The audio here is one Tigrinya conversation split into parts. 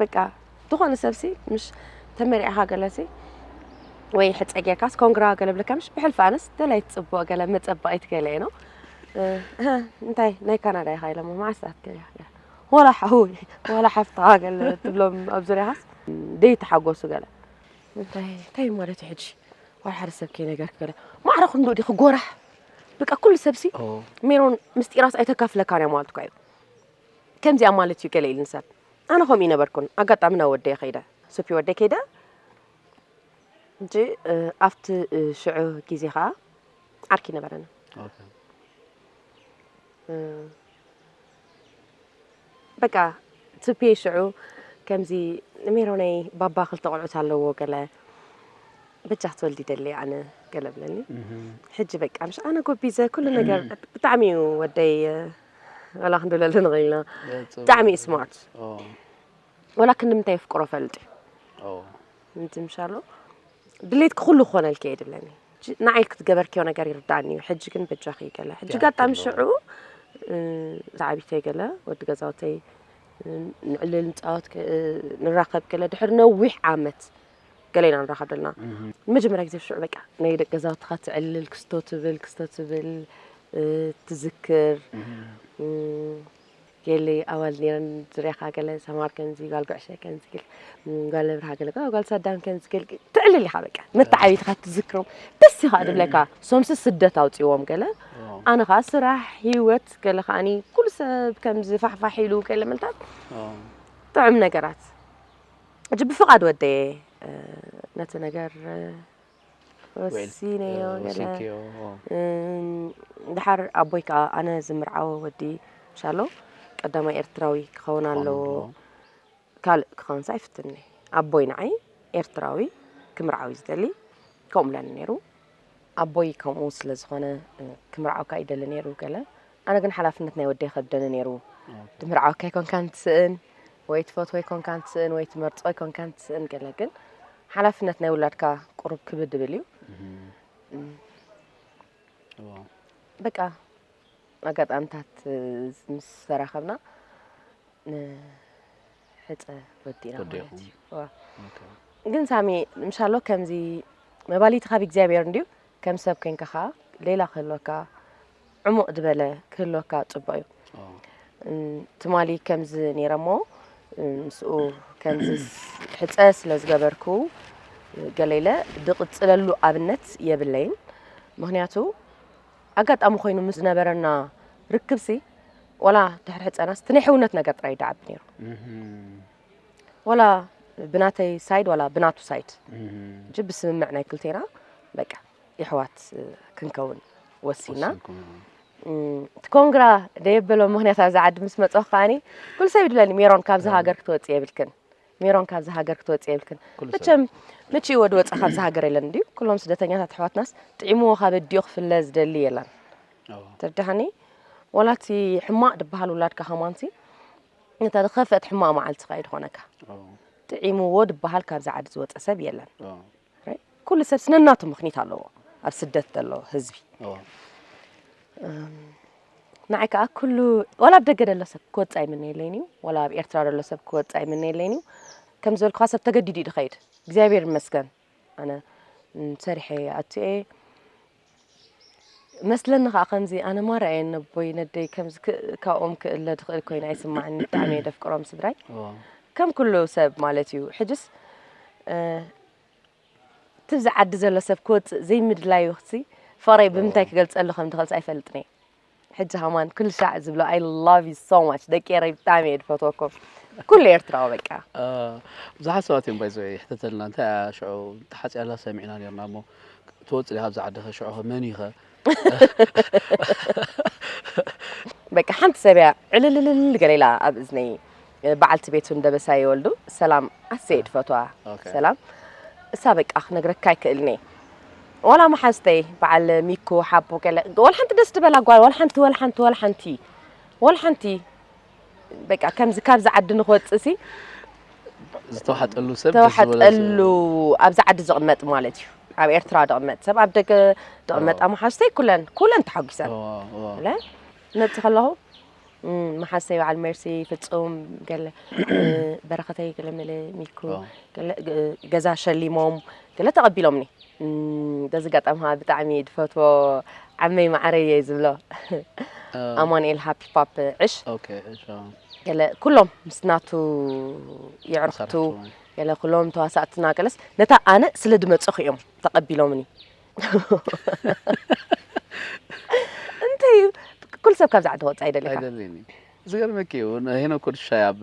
በቃ ዝኾነ ሰብሲ ምሽ ተመሪዕኻ ገለሲ ወይ ሕፀ ጌርካስ ኮንግራ ገለ ብለካ ምሽ ብሕልፊ ኣነስ ደላይ ትፅቡቕ ገለ መፀባኢት ገለ ኢኖ እንታይ ናይ ካናዳ ኢኻ ኢሎሞ መዓስታት ገለ ወላ ሓው ወላ ሓፍታ ገለ ትብሎም ኣብ ዙሪያኻስ ደይተሓጎሱ ገለ እንታይ እንታይ ማለት እዩ ሕጂ ዋላ ሓደ ሰብ ከይነገርክ ገለ ማዕረ ክንዱ ዲኺ ጎራሕ በቃ ኩሉ ሰብሲ ሜሮን ምስጢራስ ኣይተካፍለካን እያ ማለት እኳ እዩ ከምዚኣ ማለት እዩ ገለ ኢልኒ ሰብ ኣነ ከምኡ ይነበርኩን ኣጋጣሚ ናብ ወደይ ከይደ ሱፊ ወደይ ከይደ እንጂ ኣብቲ ሽዑ ግዜ ከዓ ዓርኪ ነበረኒ በቃ ትፒ ሽዑ ከምዚ ሜሮነይ ባባ ክልተ ቆልዑት ኣለዎ ገለ በጃ ክትወልዲ ደሊ ኣነ ገለ ብለኒ ሕጂ በቃ ምሽ ኣነ ጎቢዘ ኩሉ ነገር ብጣዕሚ እዩ ወደይ ወላ ክንድለሉ ንኽእል ኢና ብጣዕሚ እዩ ስማርት ወላ ክንዲ ምንታይ የፍቅሮ ፈልጥ እዩ እንትምሻሎ ድሌት ክኩሉ ክኾነልኪ የድለኒ ንዓይ ክትገበርክዮ ነገር ይርዳእኒ እዩ ሕጂ ግን በጃኺ ገለ ሕጂ ጋጣሚ ሽዑ ዝዓቢተይ ገለ ወዲ ገዛውተይ ንዕልል ንፃወት ንራኸብ ገለ ድሕሪ ነዊሕ ዓመት ገለ ኢና ንራኸብ ደለና ንመጀመርያ ግዜ ሽዑ በቃ ናይ ደቂ ገዛውትኻ ትዕልል ክስቶ ትብል ክስቶ ትብል ትዝክር ገለ ኣዋል ነረን ዝርያኻ ገለ ሰማር ከምዚ ጓል ጉዕሸ ከምዚ ገለ ጓል ነብርሃ ገለ ጓል ሳዳም ከምዚ ገለ ትዕልል ኢኻ በቃ መተዓቢትኻ ትዝክሮም ደስ ኢኻ ድብለካ ሶምሲ ስደት ኣውፅዎም ገለ ኣነ ከዓ ስራሕ ሂወት ገለ ከዓኒ ኩሉ ሰብ ከምዚ ፋሕፋሕ ኢሉ ገለ ምንታት ጥዑም ነገራት ሕጂ ብፍቓድ ወደየ ነቲ ነገር ወሲነዮ ገለ ድሓር ኣቦይ ከዓ ኣነ ዝምርዓወ ወዲ ምሻሎ ቀዳማይ ኤርትራዊ ክኸውን ኣለዎ ካልእ ክኸውንስ ኣይፍትንኒ ኣቦይ ንዓይ ኤርትራዊ ክምርዓዊ ዝደሊ ከምኡ ኢለኒ ነይሩ ኣቦይ ከምኡ ስለ ዝኾነ ክምርዓውካ ይደሊ ነይሩ ገለ ኣነ ግን ሓላፍነት ናይ ወደይ ከብደኒ ነይሩ ትምርዓውካ ይኮንካ ንትስእን ወይ ትፈትዎ ይኮንካ ንትስእን ወይ ትመርፆ ይኮንካ ንትስእን ገለ ግን ሓላፍነት ናይ ውላድካ ቁሩብ ክብድ ድብል እዩ በቃ ኣጋጣምታት ምስ ተራኸብና ሕፀ ወዲእና ማለት እዩ ግን ሳሚ ምሻሎ ከምዚ መባሊቲ ካብ እግዚኣብሔር እንድዩ ከም ሰብ ኮንካ ከዓ ሌላ ክህልወካ ዕሙቅ ዝበለ ክህልወካ ፅቡቅ እዩ ትማሊ ከምዚ ነይረ እሞ ምስኡ ከምዚ ሕፀ ስለ ዝገበርኩ ገሌለ ድቕፅለሉ ኣብነት የብለይን ምክንያቱ ኣጋጣሚ ኮይኑ ምስ ዝነበረና ርክብሲ ዋላ ተሕርሕፀናስ እቲ ናይ ሕውነት ነገር ጥራይ ይደዓብ ነይሩ ዋላ ብናተይ ሳይድ ዋላ ብናቱ ሳይድ እጂ ብስምምዕ ናይ ክልቴና በቃ የሕዋት ክንከውን ወሲና እቲ ኮንግራ ደየበሎ ምክንያት ኣብዚ ዓዲ ምስ መፅኹ ከዓኒ ኩሉ ሰብ ይድለኒ ሜሮን ካብዚ ሃገር ክትወፅእ የብልክን ሜሮን ካብዚ ሃገር ክትወጽእ የብልክን መቸም ምቺ ወዲ ወጻ ካብዚ ሃገር የለን እንዲዩ ኩሎም ስደተኛታት ኣሕዋትናስ ጥዒምዎ ካብ ኣዲኡ ክፍለ ዝደሊ የለን ትርዳሃኒ ወላቲ ሕማቅ ድበሃል ውላድካ ከማንሲ ነታ ዝኸፍአት ሕማቅ መዓልቲ ኸይድ ኾነካ ጥዒምዎ ድበሃል ካብዚ ዓዲ ዝወፀ ሰብ የለን ኩሉ ሰብ ነናቱ ምኽኒት ኣለዎ ኣብ ስደት ዘሎ ህዝቢ ንዓይ ከዓ ኩሉ ዋላ ኣብ ደገ ዘሎ ሰብ ክወፅእ ኣይምነየለይን እዩ ዋላ ኣብ ኤርትራ ዘሎ ሰብ ክወፅእ ኣይምነየለይን እዩ ከም ዝበልኩኻ ሰብ ተገዲዱ እዩ ድኸይድ እግዚኣብሔር ይመስገን ኣነ ሰሪሐ ኣቱየ መስለኒ ከኣ ከምዚ ኣነ ማራ እየ ነቦይ ነደይ ከምዚ ካብኦም ክእለ ድኽእል ኮይነ ኣይስማዕኒ ብጣዕሚ እየ ደፍቅሮም ስድራይ ከም ኩሉ ሰብ ማለት እዩ ሕጅስ ትብዚ ዓዲ ዘሎ ሰብ ክወፅእ ዘይምድላዩ ክሲ ፍቅረይ ብምንታይ ክገልፀሉ ከም ድኽእልስ ኣይፈልጥን እየ ሕጂ ሃማን ኩሉ ሻዕ ዝብሎ ኣይ ላቭ ዩ ሶ ማች ደቂ ኤረይ ብጣዕሚ እየ ዝፈትወኩም ኩሉ ኤርትራዊ በቃ ብዙሓት ሰባት እዮም ባይዘ ይሕተተልና እንታይ እያ ሽዑ ተሓፂያላ ሰሚዕና ነርና እሞ ትወፅእ ዲኻ ኣብዛ ዓድኸ ሽዑኸ መን እዩኸ በቃ ሓንቲ ሰብ እያ ዕልልልል ገለ ኢላ ኣብ እዝነይ በዓልቲ ቤቱን ደበሳይ ይወልዱ ሰላም ኣሰየድ ፈትዋ ሰላም እሳ በቃ ክነግረካ ኣይክእልንየ ዋላ መሓዝተይ በዓል ሚኩ ሓቦ ገለ ዋላ ሓንቲ ደስ ድበላ ጓል ዋላ ሓንቲ ዋላ ሓንቲ ዋላ ሓንቲ ዋላ ሓንቲ በቃ ከምዚ ካብዚ ዓዲ ንክወፅእ ሲ ዝተዋሓጠሉ ሰብ ዝተዋሓጠሉ ኣብዚ ዓዲ ዝቕመጥ ማለት እዩ ኣብ ኤርትራ ድቕመጥ ሰብ ኣብ ደገ ድቕመጥ ኣመሓዝተይ ኩለን ኩለን ተሓጒሰን ነብቲ ከለኹ መሓሰይ በዓል መርሲ ፍፁም ገለ በረኸተይ ገለ መለ ሚኩ ገዛ ሸሊሞም ገለ ተቐቢሎምኒ በዚ ኣጋጣሚ ከዓ ብጣዕሚ ድፈትዎ ዓመይ ማዕረይ እየ ዝብሎ ኣማንኤል ሃፒ ፓፕ ዕሽ ገለ ኩሎም ምስ ናቱ የዕርኽቱ ገለ ኩሎም ተዋሳእትና ገለስ ነታ ኣነ ስለ ድመፀኹ እዮም ተቐቢሎምኒ እንታይ እዩ ኩሉ ሰብ ካብዚ ዓዲ ክወፅእ ኣይደልካ ኣይደልይን እዩ ዝገርመኪ እዩ ንሄኖክ ወድሻይ ኣብ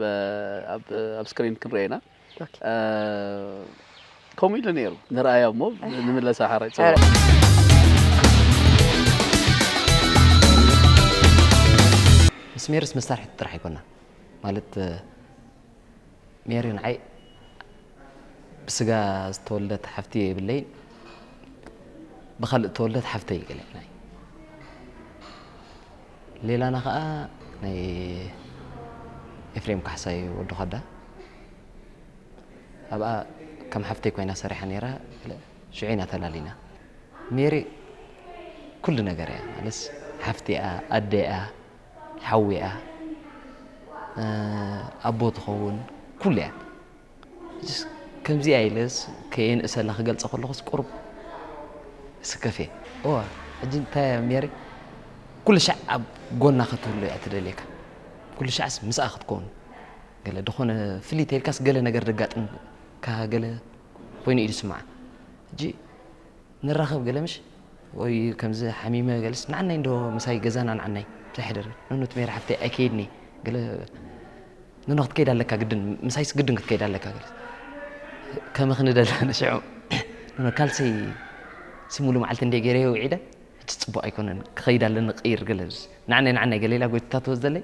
ኣብ ኣብ ስክሪን ክንሪኦ ኢና ኦኬ። እ፣ ከምኡ ኢሉ ነይሩ ንርኣያ እሞ ንምለሳ ሓራይ ፅዋ ኧረ። ምስ ሜርስ መሳርሒት ጥራሕ ኣይኮና ማለት ሜሪ ንዓይ ብስጋ ዝተወልደት ሓፍቲ የብለይን ብካልእ ዝተወልደት ሓፍተይ ገለና ሌላና ከዓ ናይ ኤፍሬም ካሕሳይ ወዲ ኳዳ ኣብኣ ከም ሓፍተይ ኮይና ሰሪሓ ነይራ ሽዑ ኢና ተላሊና ሜሪ ኩሉ ነገር እያ ማለት ሓፍቲ እያ ኣደ እያ ሓው'ያ ኣቦ ትኸውን ኩሉ'ያ መቸስ ከምዚ'ያ ኢለስ ከየንእሰላ ክገልጻ ከለኹስ ቁሩብ እስከፍ'የ እወ ሕጂ እንታይ'ያ ሜሪ ኩልሻዕ ኣብ ጎና ክትህሉ'ያ ትደልየካ ኩልሻዕስ ምስኣ ክትከውን ገለ ድኾነ ፍልይ ተይልካስ ገለ ነገር ደጋጥምካ ገለ ኮይኑ ኢዩ ዝስምዓ ሕጂ ንራኸብ ገለ ምሽ ወይ ከምዚ ሓሚመ ገልስ ንዓናይ እንዶ ምሳይ ገዛና ንዓናይ ምሳይ ሕደሪ ኑኑት ሜሪ ሓፍተይ ኣይከይድኒ ገለ ኑኑ ክትከይድ ኣለካ ግድን ምሳይስ ግድን ክትከይድ ኣለካ ገለ ከምኺ ንደለ ንሽዑ ኑኑ ካልሰይ ሲሙሉ መዓልቲ እንደ ገይረዮ ውዒደ ሕጂ ፅቡቕ ኣይኮነን ክኸይድ ኣለኒ ቅይር ገለ ንዓናይ ንዓናይ ገለ ኢላ ጎይትታቶ ዘለይ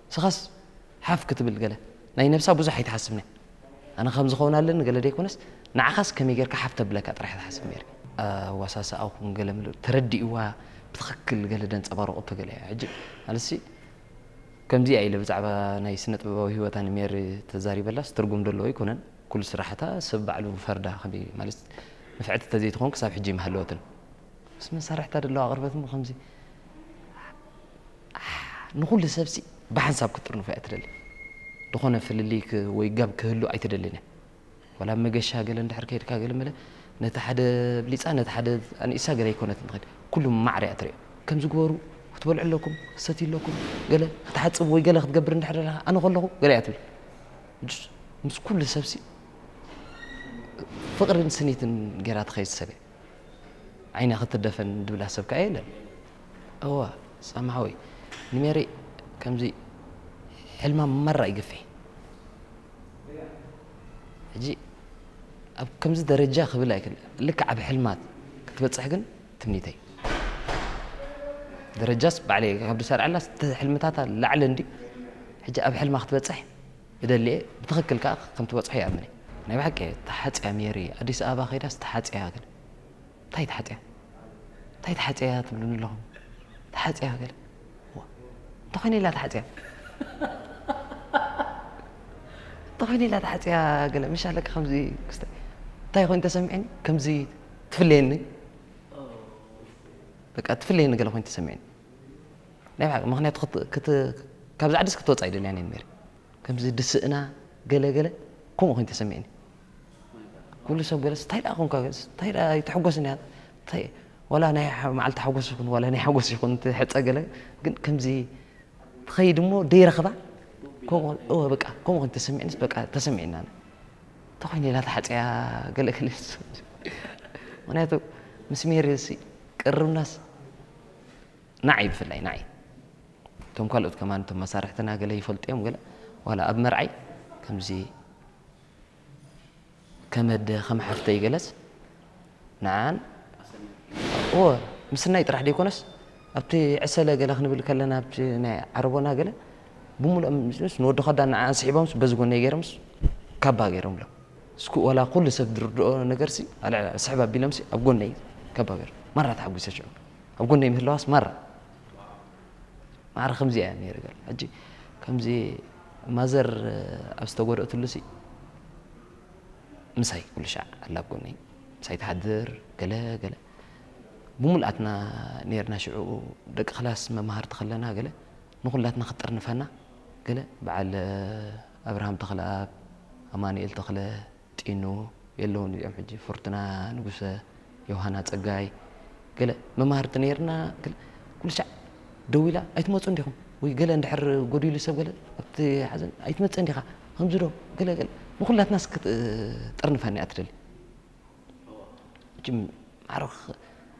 ንስኻስ ሓፍ ክትብል ገለ ናይ ነብሳ ብዙሕ ኣይትሓስብንያ ኣነ ከምዚ ክኸውን ኣለኒ ገለ ደይኮነስ ንዓኻስ ከመይ ጌርካ ሓፍ ተብለካ ጥራሕያ ትሓስብ ኔረ። ኣዋሳስኣኹም ገለ ምሉእ ተረዲእዋ ብትኽክል ገለ ደንጸባርቑ እኮ ገለ ሕጂ ማለትሲ ከምዚኣ ኢለ ብዛዕባ ናይ ስነጥበባዊ ሂወታ ንሜሪ ተዛሪበላስ ትርጉም ደለዎ ኣይኮነን ኩሉ ስራሓታ ሰብ ባዕሉ ይፈርዳ ከመይ ማለት ንፍዕቲ ተዘይትኾን ክሳብ ሕጂ ኣይምሃለወትን ምስ መሳርሒ ተደለው ኣቕርበትን ብኸምዚ ንኹሉ ሰብሲ ብሓንሳብ ክትጥርንፎ እያ ትደሊ ዝኾነ ፍልልይ ወይ ጋብ ክህሉ ኣይትደልን እያ ወላ መገሻ ገለ እንድሕር ከይድካ ገለ መለ ነቲ ሓደ ብሊፃ ነቲ ሓደ ኣንኢሳ ገለ ኣይኮነትን ትኸድ ኩሉ ማዕር እያ ትሪኦ ከምዚ ግበሩ ክትበልዑ ኣለኩም ክሰት ኣለኩም ገለ ክትሓፅብ ወይ ገለ ክትገብር እንድሕር ኣለካ ኣነ ከለኹ ገለ እያ ትብል ምስ ኩሉ ሰብሲ ፍቕርን ስኒትን ገይራ ትኸይድ ሰብ እያ ዓይና ክትደፈን ድብላ ሰብ ከኣ የለን እወ ሳሚ ሓወይ ንሜሪ ከምዚ ሕልማ መራ ይግፌ ሕጂ ኣብ ከምዚ ደረጃ ክብል ኣይክል ልክዕ ኣብ ሕልማ ክትበጽሕ ግን ትምኒተይ ደረጃስ ባዕለይ ካብ ድሰርዐላ ሕልምታታ ላዕሊ እንዲ ሕጂ ኣብ ሕልማ ክትበጽሕ እደሊ እየ ብትኽክል ከኣ ከም ትበጽሖ ይኣምን እየ። ናይ ብሓቂ እየ ተሓጽያ ሜሪ ኣዲስ ኣበባ ከይዳስ ተሓጽያ ገለ እንታይ ተሓጽያ እንታይ ተሓጽያ ትብሉኒ ኣለኹም ተሓጽያ ገለ እዋ እንታይ ኮይና ኢላ ተሓጽያ እንታይ ኮይና ኢላ ተሓጽያ ገለ ምሻ ለካ ከምዚ ክስተ እንታይ ኮይኑ ተሰሚዕኒ ከምዚ ትፍለየኒ በቃ ትፍለየኒ ገለ ኮይኑ ተሰሚዕኒ ናይ ብሓቂ ምክንያቱ ክት ክት ካብዚ ዓድስ ክትወጽእ ኣይደልያን እየ ሜሪ ከምዚ ድስእና ገለ ገለ ከምኡ ኮይኑ ተሰሚዕኒ ኩሉ ሰብ ገለስ እንታይ ደኣ ኮንካ ገለስ እንታይ ደኣ ኣይትሕጎስን እያ እንታይ ወላ ናይ መዓልቲ ሓጎስ ይኹን ወላ ናይ ሓጎስ ይኹን ትሕጸ ገለ ግን ከምዚ ትኸይድ እሞ ደይረኽባ ከምኡ እወ በቃ ከምኡ ኮይኑ ተሰሚዕኒስ በቃ ተሰሚዕና እንታይ ኮይኑ ኢላ ተሓጽያ ገለ ገለ ምክንያቱ ምስ ሜሪ ቅርብናስ ናዓይ ብፍላይ ናዓይ እቶም ካልኦት ከማን እቶም መሳርሕትና ገለ ይፈልጡ እዮም ገለ ዋላ ኣብ መርዓይ ከምዚ ከመደ ከም ሓፍተይ ገለስ ንዓን እዎ ምስናይ ጥራሕ ደይኮነስ ኣብቲ ዕሰለ ገለ ክንብል ከለና ኣብቲ ናይ ዓረቦና ገለ ብምሉኦም ምስ ንወዲ ከዳን ንዓን ስሒቦምስ በዚ ጎነይ ገይሮምስ ካባ ገይሮምሎም እስኩ ዋላ ኩሉ ሰብ ዝርድኦ ነገርሲ ኣልዕል ስሕብ ኣቢሎምሲ ኣብ ጎነይ ከብ ሃገር ማራ ተሓጒሰ ሽዑ ኣብ ጎነይ ምህላዋስ ማራ ማዕረ ከምዚ ኣያ ነይረ ገለ ሕጂ ከምዚ ማዘር ኣብ ዝተጎድእትሉሲ ምሳይ ኩሉ ሻዕ ኣላ ኣብ ጎነይ ምሳይ ትሓድር ገለ ገለ ብምሉኣትና ነርና ሽዑ ደቂ ክላስ መማህርቲ ከለና ገለ ንኩላትና ክትጥርንፈና ገለ በዓል ኣብርሃም ተኽለኣብ፣ ኣማኑኤል ተኽለ፣ ጢኑ፣ የለውን እዚኦም ሕጂ፣ ፍርቱና ንጉሰ፣ ዮውሃና ጸጋይ፣ ገለ መማህርቲ ነይርና ገለ ኩልሻዕ ደዊላ ኣይትመጹን ዲኹም ወይ ገለ እንድሕር ጎዲሉ ሰብ ገለ ኣብቲ ሓዘን ኣይትመጽእን ዲኻ ከምዚ ዶ ገለ ገለ ንኹላትናስ ክትጥርንፈና'ያ ትደሊ። መቸም ዓርኽ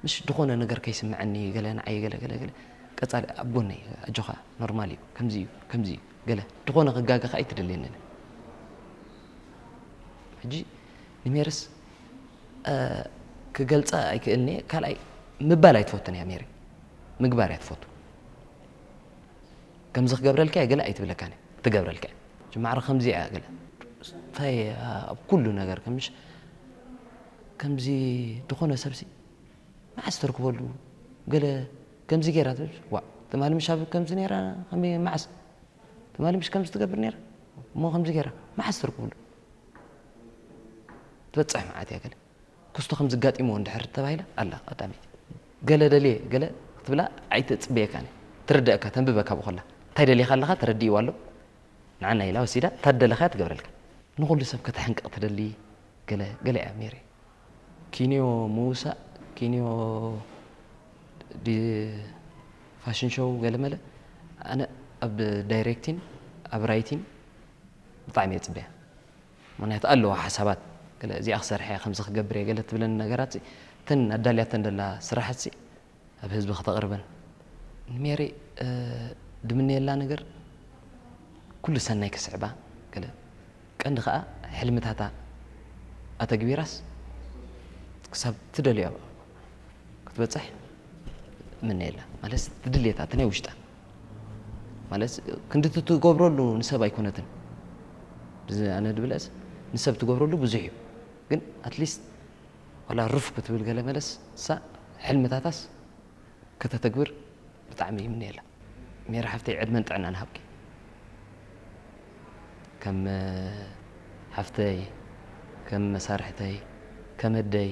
ምሽ ድኾነ ነገር ከይስምዐኒ ገለ ንዓይ ገለ ገለ ገለ ቀጻሊ ኣብ ጎነይ ኣጆኻ ኖርማል እዩ ከምዚ እዩ ከምዚ እዩ ገለ ድኾነ ክጋገ ከኣ ኣይትደልየንን ሕጂ ንሜርስ ክገልጻ ኣይክእልኒ እየ ካልኣይ ምባል ኣይትፈቱን እያ ሜሪ ምግባር እያ ትፈቱ ከምዚ ክገብረልካ እየ ገለ ኣይትብለካን እያ ትገብረልካ እያ እቺ ማዕረ ከምዚ እያ ገለ እንታይ እያ ኣብ ኩሉ ነገር ከምሽ ከምዚ ዝኾነ ሰብሲ መዓስ ተርክበሉ ገለ ከምዚ ገይራ ትብል ዋ ትማሊ ምሽ ኣብ ከምዚ ነይራ ከመይ መዓስ ትማሊ ምሽ ከምዚ ትገብር ነይራ እሞ ከምዚ ገይራ መዓስ ተርክብሉ ትበፅሕ መዓት እያ ገለ ክስቶ ከምዚ ኣጋጢምዎ እንድሕር ተባሂላ ኣላ ቀዳመይቲ ገለ ደልየ ገለ ክትብላ ኣይትጽበየካን እያ ትርደኣካ ተንብበካ ብኮላ እንታይ ደሊኻ ኣለኻ ተረዲእዋ ኣሎ ንዓና ኢላ ወሲዳ እታ ትደለኻያ ትገብረልካ ንኹሉ ሰብ ከተሕንቅቕ ትደሊ ገለ ገለ እያ ሜሪ ኪንዮ ምውሳእ ኪንዮ ፋሽን ሾው ገለመለ ኣነ ኣብ ዳይሬክቲን ኣብ ራይቲን ብጣዕሚ እየ ጽበያ ምኽንያቱ ኣለዋ ሓሳባት ገለ እዚኣ ክሰርሕ እየ ከምዚ ክገብር እየ ገለ ትብለን ነገራትሲ እተን ኣዳልያተን ዘላ ስራሕትሲ ኣብ ህዝቢ ክተቕርበን ንሜሪ ድምነየላ ነገር ኩሉ ሰናይ ክስዕባ ገለ ቀንዲ ከኣ ሕልምታታ ኣተግቢራስ ክሳብ ትደልዮ ክትበጽሕ እምነየላ ማለትሲ እቲ ድሌታ እቲ ናይ ውሽጣ ማለት ክንድቲ ትገብረሉ ንሰብ ኣይኮነትን ብዚ ኣነ ድብለስ ንሰብ ትገብረሉ ብዙሕ እዩ ግን ኣትሊስት ዋላ ሩፍ ክትብል ገለ መለስ እሳ ሕልምታታስ ከተተግብር ብጣዕሚ ይምነየላ ሜሪ ሓፍተይ ዕድመን ጥዕናን ሃብኪ ከም ሓፍተይ ከም መሳርሕተይ ከም ኣደይ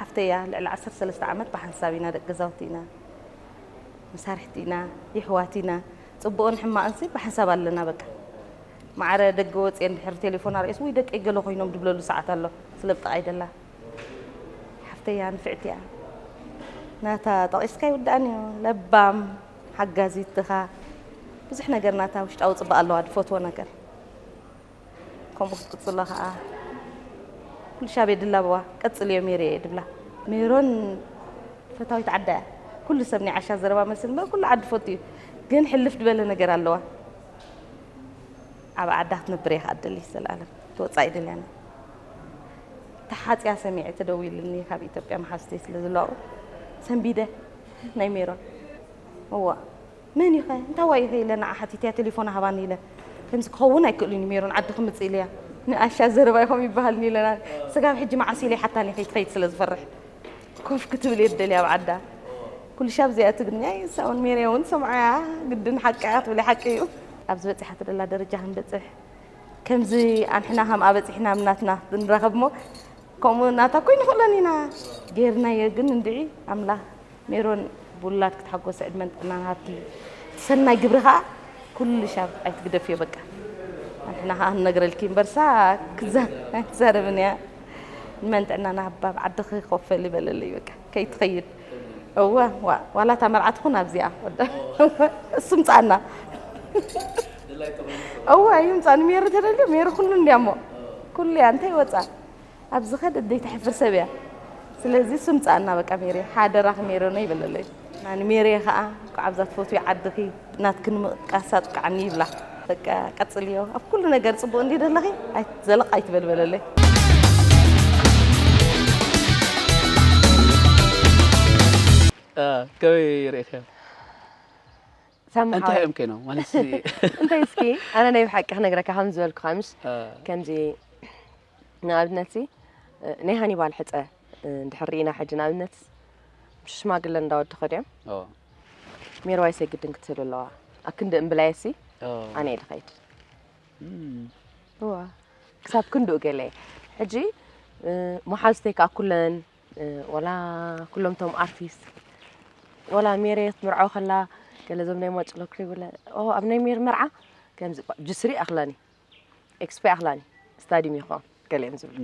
ሓፍተይ እያ ልዕሊ ዓሰርተ ሰለስተ ዓመት ብሓንሳብ ኢና ደቂ ገዛውቲ ኢና መሳርሕቲ ኢና ይሕዋት ኢና ፅቡቕን ሕማቕን ሲ ብሓንሳብ ኣለና በቃ ማዕረ ደገ ወፅየ እንድሕር ቴሌፎን ኣርእስ ወይ ደቂ ገለ ኮይኖም ድብለሉ ሰዓት ኣሎ ስለ ብጥቓይ ደላ ሓፍተይ እያ ንፍዕቲ እያ ናታ ጠቒስካ ይውዳእን እዩ ለባም ሓጋዚት ድኻ ብዙሕ ነገር ናታ ውሽጣዊ ጽባቀ ኣለዋ ድፈትዎ ነገር ከምኡ ክትቅጽሎ ከኣ ኩልሻብ የድላብዋ ቀጽልዮ ሜሪየይ ድብላ ሜሮን ፈታዊት ዓዳ እያ ኩሉ ሰብ ናይ ዓሻ ዘረባ መልሲ ንበር ኩሉ ዓዲ ፈቱ እዩ ግን ሕልፍ ድበለ ነገር ኣለዋ ኣብ ዓዳ ክትነብር እየ ከኣ ደሊ ዘለኣለም ተወጻኢ ደልያኒ ተሓጽያ ሰሚዐ ተደዊሉኒ ካብ ኢትዮጵያ መሓዝተይ ስለ ዘለዋ ሰንቢደ ናይ ሜሮን እዋእ መን ኢኸ እንታይ ዋይ ኢኸ ኢለ ንዓ ሓቲተያ ቴሌፎና ሃባኒ ኢለ ከምዚ ክኸውን ኣይክእሉን እዩ ሜሮን ዓዲ ክምፅእ ኢለያ ንኣሻ ዘረባ ኢኹም ይበሃልኒ ኢለ ስጋብ ሕጂ መዓስ ኢለ ይሓታኒ ከይትኸይድ ስለ ዝፈርሕ ኮፍ ክትብል እየ ደልያ ኣብ ዓዳ ኩሉ ሻብ እዚኣ ትግርኛ ይሳውን ሜርያ እውን ሰምዓያ ግድን ሓቂ ክትብል ሓቂ እዩ ኣብዚ በፂሓ ትደላ ደረጃ ክንበፅሕ ከምዚ ኣንሕና ከምኣ በጺሕና ኣብ ናትና ብንራኸብሞ ከምኡ ናታ ኮይኑ ክእለን ኢና ጌርናዮ ግን እንድዒ ኣምላኽ ሜሮን ብውላድ ክትሓጎሰ ዕድመን ጥዕናን ሃብኪ እቲ ሰናይ ግብሪ ከዓ ኩሉ ሻብ ኣይትግደፍዮ በቃ ኣንሕና ከዓ ንነግረልኪ እምበርሳ ክዛረብን እያ ንመን ጥዕናና ሃባ ዓድኺ ኮፈል ይበለለይ በቃ ከይትኸይድ እወ ዋእ ዋላ እታ መርዓ ትኹን ኣብዚኣ እሱ ምጻኣና እወ እዩ ምጻ ንሜሩ ተደልዩ ሜሩ ኩሉ እንድያ እሞ ኩሉ እያ እንታይ ወጻ ኣብ ዝኸድ እደይ ተሕፍር ሰብ እያ ስለዚ እሱ ምጻኣና በቃ ሜሪ ሓደራኺ ሜሪ ነው ይበለለይ ንሜሪ ከዓ ኳዕ ኣብዛ ትፈትዩ ዓድኺ ናትኪ ንምጥቃስ ኣብቅዓኒ ይብላ በቃ ቀጽልዮ ኣብ ኩሉ ነገር ጽቡቅ እንድዩ ዘለኺ ዘለቅ ኣይትበል በለለይ። ከመይ ርኢኺዮ እንታይ እዮም ኮይኖም ማለት እንታይ እስኪ ኣነ ናይ ብሓቂ ክነግረካ ከም ዝበልኩኻ ምስ ከምዚ ንኣብነት ናይ ሃኒባል ሕፀ እንድሕር ርኢና ሕጂ ንኣብነት ሽማግለ እንዳወዲ ከድዮም ሜሮዋይስ የግድን ክትህሉ ኣለዋ ኣክንዲ እምብላየሲ ኣነ እየ ድኸይድ እዋ ክሳብ ክንድኡ ገለ ሕጂ መሓዝተይ ከዓ ኩለን ወላ ኩሎም ቶም ኣርቲስት ወላ ሜሬ ክትምርዖ ከላ ገለ ዞም ናይ ማጭሎ ክሪብለ ኣብ ናይ ሜር መርዓ ከምዚ ጅስሪ ኣኽላኒ ኤክስፖ ኣኽላኒ ስታዲም ይኾ ገሊኦም ዝብሉ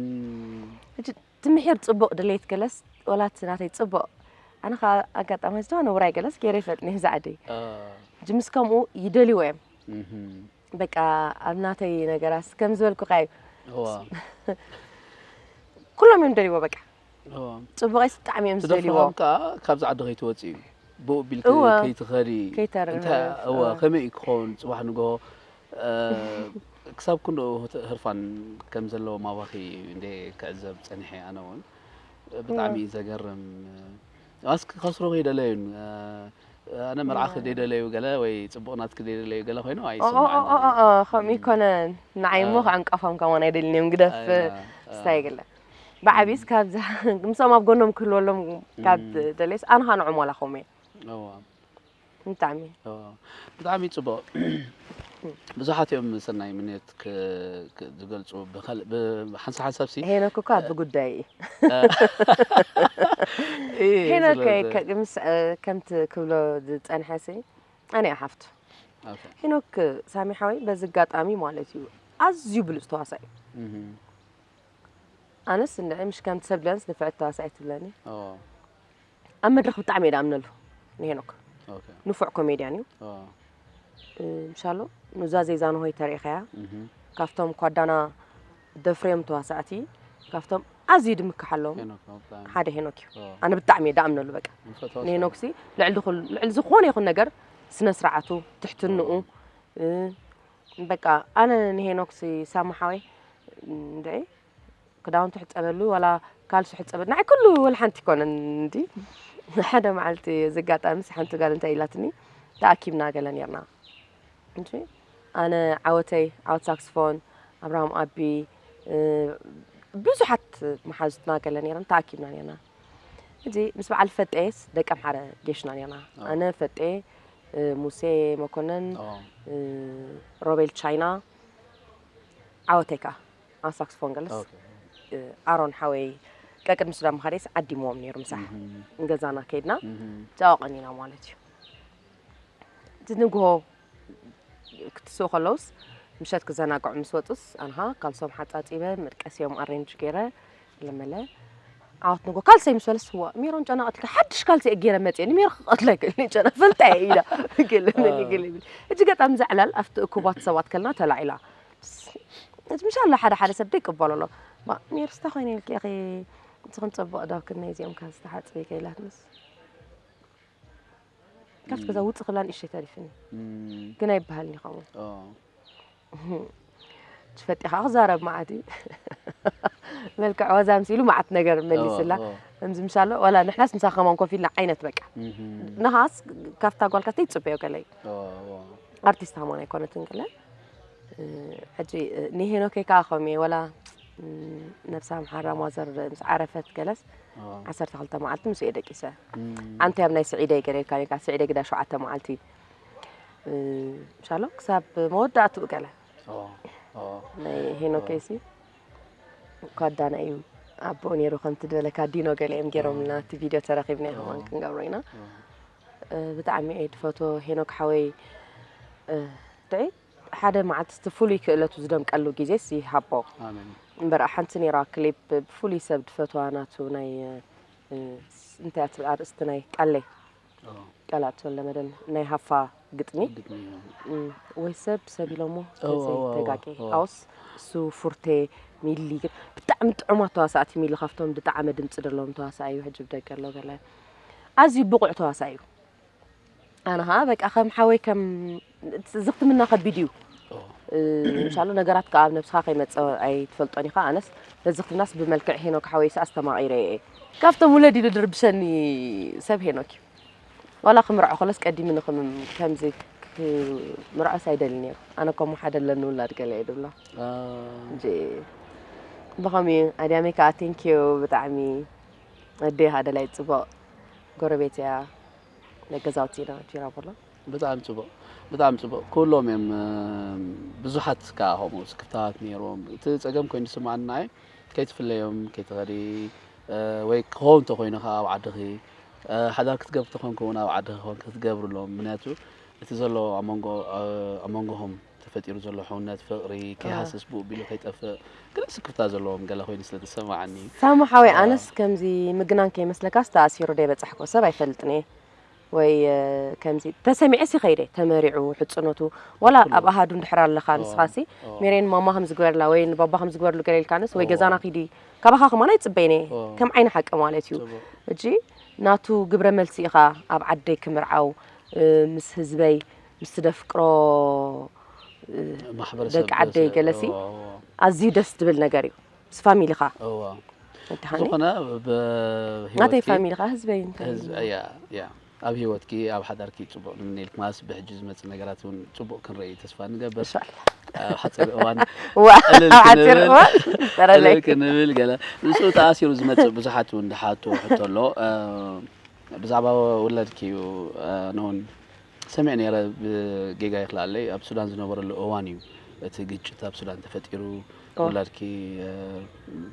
እቲ ምሒር ጽቡቅ ድሌት ገለስ ወላቲ ናተይ ጽቡቅ ኣነ ከኣ ኣጋጣማይ ዝተዋነ ውራይ ገለስ ገይረ ይፈልጥን እየ ዛዓደይ ጅምስ ከምኡ ይደልይዎ እዮም በቃ ኣብ ናተይ ነገራስ ከም ዝበልኩካ እዩ ኩሎም እዮም ደልይዎ በቃ ጽቡቀይስ ብጣዕሚ እዮም ዝደልይዎ ከኣ ካብዚ ዓዲ ከይትወጽእ እዩ ብኡ ቢልኪ ከይትኸዲ ከይተርፍ ከመይ እዩ ክኸውን ጽባሕ ንግሆ ክሳብ ክንድኡ ህርፋን ከም ዘለዎም ኣባኺ እንድየ ክዕዘብ ጸኒሐ ኣነ ውን ብጣዕሚ እዩ ዘገርም ኣስኪ ከስርኹ ይደለዩን ኣነ መርዓኺ ደይደለዩ ገለ ወይ ጽቡቕ ናትኪ ደይደለዩ ገለ ኮይኑ ኣይስምዓንን ከምኡ ይኮነን ንዓይ እሞ ክዕንቀፎም ከማን ኣይደልን እዮም ግደፍ ስታይ ገለ ብዓብይስ ካብዛ ምስኦም ኣብ ጎኖም ክህልወሎም ካብ ደለይስ ኣነ ከዓ ንዖም ዋላ ከምኡ እየ ብጣዕሚ ብጣዕሚ ጽቡቅ ብዙሓት እዮም ሰናይ ምንዮት ዝገልጹ ብሓንሳ ሓንሳብ ሲ ሄኖክ እኮ ኣብ ጉዳይ እዩ ሄኖክ ምስ ከምቲ ክብሎ ዝጸንሐ ሲ ኣነ እያ ሓፍቱ ሄኖክ ሳሚ ሓወይ በዚ ኣጋጣሚ ማለት እዩ ኣዝዩ ብሉጽ ተዋሳኢ እዩ ኣነስ እንድዒ ምሽ ከምቲ ሰብ ድያንስ ንፍዕቲ ተዋሳኢ ትብለኒ ኣብ መድረኽ ብጣዕሚ እየ ድኣምነሉ ንሄኖክ ንፉዕ ኮሜድያን እዩ ምሻሎ ኑዛዜ ዛንሆይ ተሪኢኸያ ካብቶም ኳዳና ደፍርዮም ተዋሳእቲ ካብቶም ኣዝዩ ድምክሓሎም ሓደ ሄኖክ እዩ ኣነ ብጣዕሚ እየ ድኣምነሉ በቃ ንሄኖክ ሲ ልዕሊ ዝኾነ ይኹን ነገር ስነ ስርዓቱ ትሕትንኡ በቃ ኣነ ንሄኖክ ሲ ሳሙሓወይ እንደ ክዳውንቲ ሕጸበሉ ዋላ ካልሲ ሕጸበሉ ንዓይ ኩሉ ወልሓንቲ ኣይኮነን እንዲ ሓደ መዓልቲ እዚ ኣጋጣሚስ ሓንቲ ጋል እንታይ ኢላትኒ ተኣኪብና ገለ ኔርና እንጂ ኣነ ዓወተይ ዓወት ሳክስፎን ኣብርሃም ኣቢ ብዙሓት መሓዙትና ገለ ኔረን ተኣኪብና ኔርና እዚ ምስ በዓል ፈጤስ ደቂ ኣምሓረ ጌሽና ኔርና ኣነ ፈጤ ሙሴ መኮነን ሮቤል ቻይና ዓወተይ ከዓ ኣብ ሳክስፎን ገለስ ኣሮን ሓወይ ቀቅድሚ ሱዳን ምኻደይስ ዓዲምዎም ነይሩ ምሳሕ ንገዛና ከይድና ጫዋ ቀኒና ማለት እዩ እቲ ንግሆ ክትስኡ ከለውስ ምሸት ክዘናግዑ ምስ ወፁስ ኣንሃ ካልሶም ሓፃፂበ መድቀሲኦም ኣሬንጅ ገይረ ለመለ ዓወት ንጎ ካልሰይ ምስ በለስ ዋ ሜሮን ጨና ቀትልካ ሓድሽ ካልሲ እየ ገይረ መፅየ ንሜሮ ክቐትለ ክእል ጨና ፈልጣ እየ ኢላ ገለመኒ ገለ ይብል እጅ ገጣም ዘዕላል ኣብቲ እኩባት ሰባት ከልና ተላዒላ እቲ ምሻ ኣሎ ሓደ ሓደ ሰብ ደይቅበሎ ኣሎ ሜርስ እንታይ ኮይነ ኢልኪ ኢኺ እቲ ክንፀብቕ ዶ ክንደይ እዚኦም ከ ዝተሓፅበ ከይላትንስ ካብቲ ገዛ ውፅእ ክብላ ንእሽተይ ተሪፍኒ ግን ኣይበሃልን ይኸውን ትፈጢኻ ክዛረብ መዓት እዩ መልክዕ ወዛ ምሲሉ መዓት ነገር መሊስላ ከምዚ ምሻ ኣሎ ዋላ ንሕናስ ንሳ ከማን ኮፍ ኢልና ዓይነት በቃ ንኻስ ካብታ ጓልካስተይ ይፅበዮ ገለ እዩ ኣርቲስት ሃማን ኣይኮነትን ገለን ሕጂ ንሄኖከይ ከኣ ከምኡ እየ ወላ ነብሳ ኣምሓራ ሟዘር ምስ ዓረፈት ገለስ ዓሰርተ ክልተ መዓልቲ ምስ እየ ደቂሰ ኣንቲ ኣብ ናይ ስዒደይ ገለልካ ኔርካ ስዒደይ ግዳ ሸውዓተ መዓልቲ ምሻሎ ክሳብ መወዳእትኡ ገለ ናይ ሄኖከይሲ እኳ ዳና እዩ ኣቦኡ ነይሩ ከምቲ ዝበለካ ዲኖ ገለ እዮም ገይሮምና እቲ ቪድዮ ተረኪብና ይኸውን ክንገብሮ ኢና ብጣዕሚ እየ ድፈትዎ ሄኖክ ሓወይ ድዒ ሓደ መዓልቲ እቲ ፍሉይ ክእለቱ ዝደምቀሉ ግዜስ ይሃቦ እምበር ሓንቲ ነይራ ክሊፕ ብፍሉይ ሰብ ድፈትዋ ናቱ ናይ እንታይ እያ ትብል ኣርእስቲ ናይ ቀለይ ቀላእ ተወለመደን ናይ ሃፋ ግጥሚ ወይ ሰብ ሰብ ኢሎሞ ተጋቂ ኣውስ እሱ ፉርቴ ሚሊ ግን ብጣዕሚ ጥዑማት ተዋሳእቲ ሚሊ ካብቶም ድጣዕመ ድምፂ ደለዎም ተዋሳእ እዩ ሕጂ ብደገ ኣሎ ገለ ኣዝዩ ብቑዕ ተዋሳኢ እዩ ኣነ ኸኣ በቃ ከም ሓወይ ከም ዝኽትምና ከቢድ እዩ እንሻሎ ነገራት ከዓ ኣብ ነብስኻ ከይመፀ ኣይትፈልጦን ኢኻ ኣነስ ነዚ ክትምናስ ብመልክዕ ሄኖክ ሓወይስ ኣስተማቒረ እየ ካብቶም ውለድ ኢሉ ድርብሸኒ ሰብ ሄኖክ እዩ ዋላ ክምርዖ ከሎስ ቀዲሙ ንክምም ከምዚ ምርዖስ ኣይደልን እየ ኣነ ከምኡ ሓደ ኣለኒ ውላድ ገለ እየ ድብሎ እንጂ ብኸምኡ ኣድያመይ ከዓ ቴንኪዩ ብጣዕሚ ኣደይ ሃደላይ ፅቡቅ ጎረቤት እያ ናይ ገዛውቲ ኢና ፊራ ቦሎ ብጣዕሚ ፅቡቅ ብጣዕሚ ፅቡቅ ኩሎም እዮም ብዙሓት ከዓ ከምኡ ስክፍታት ነይሮም እቲ ፀገም ኮይኑ ዝስምዓኒ ንዓይ ከይትፍለዮም ከይትኸዲ ወይ ክኸውን እንተኮይኑ ከዓ ኣብ ዓድኺ ሓዳር ክትገብር ተኾንኩ እውን ኣብ ዓድኺ ኮንክ ክትገብርሎም ምክንያቱ እቲ ዘሎ ኣብ መንጎ ኣብ መንጎኹም ተፈጢሩ ዘሎ ሕውነት ፍቕሪ ከይሃስስ ብኡ ቢሉ ከይጠፍእ ግን ስክፍታ ዘለዎም ገለ ኮይኑ ስለ ተሰማዓኒ ሳሙ ሓወይ ኣነስ ከምዚ ምግናን ከይመስለካስ ተኣሲሩ ደይ በጻሕኮ ሰብ ኣይፈልጥን እየ ወይ ከምዚ ተሰሚዐ ሲ ከይደ ተመሪዑ ሕጽኖቱ ዋላ ኣብ ኣሃዱ እንድሕር ኣለኻ ንስኻ ሲ ሜሬን ማማ ከም ዝግበርላ ወይ ንባባ ከም ዝግበርሉ ገለ ኢልካንስ ወይ ገዛና ኪዲ ካባኻ ከማን ኣይጽበይን እየ ከም ዓይኒ ሓቂ ማለት እዩ እጂ ናቱ ግብረ መልሲ ኢኻ ኣብ ዓደይ ክምርዓው ምስ ህዝበይ ምስቲ ደፍቅሮ ማሕበረሰብ ደቂ ዓደይ ገለሲ እዎ። ኣዝዩ ደስ ዝብል ነገር እዩ ምስ ፋሚሊኻ እዎ ወድሃኒ ዝኾነ ብሂወትኪ ናተይ ፋሚሊ ከዓ ህዝበይ እንታይ እዩ? ህዝቢ እያ እያ ኣብ ሂወትኪ ኣብ ሓዳርኪ ፅቡቅ ንምነየልኪ ማስ ብሕጂ ዝመፅእ ነገራት እውን ፅቡቅ ክንርኢ ተስፋ ንገብር እንሻላ ኣብ ሓፂር እዋን እዋ ዕልል ኣብ ሓፂር ክንብል እዋን ዕልል ይፈጠረለይ ክንብል ገለ ንሱ ተኣሲሩ ዝመፅእ ብዙሓት እውን ዝሓትዎ ሕቶ ኣሎ እ፣ ብዛዕባ ውላድኪ እዩ እ፣ ነውን ሰሚዐ ነይረ ብጌጋ ይክልኣለይ ኣብ ሱዳን ዝነበረሉ እዋን እዩ እቲ ግጭት ኣብ ሱዳን ተፈጢሩ ውላድኪ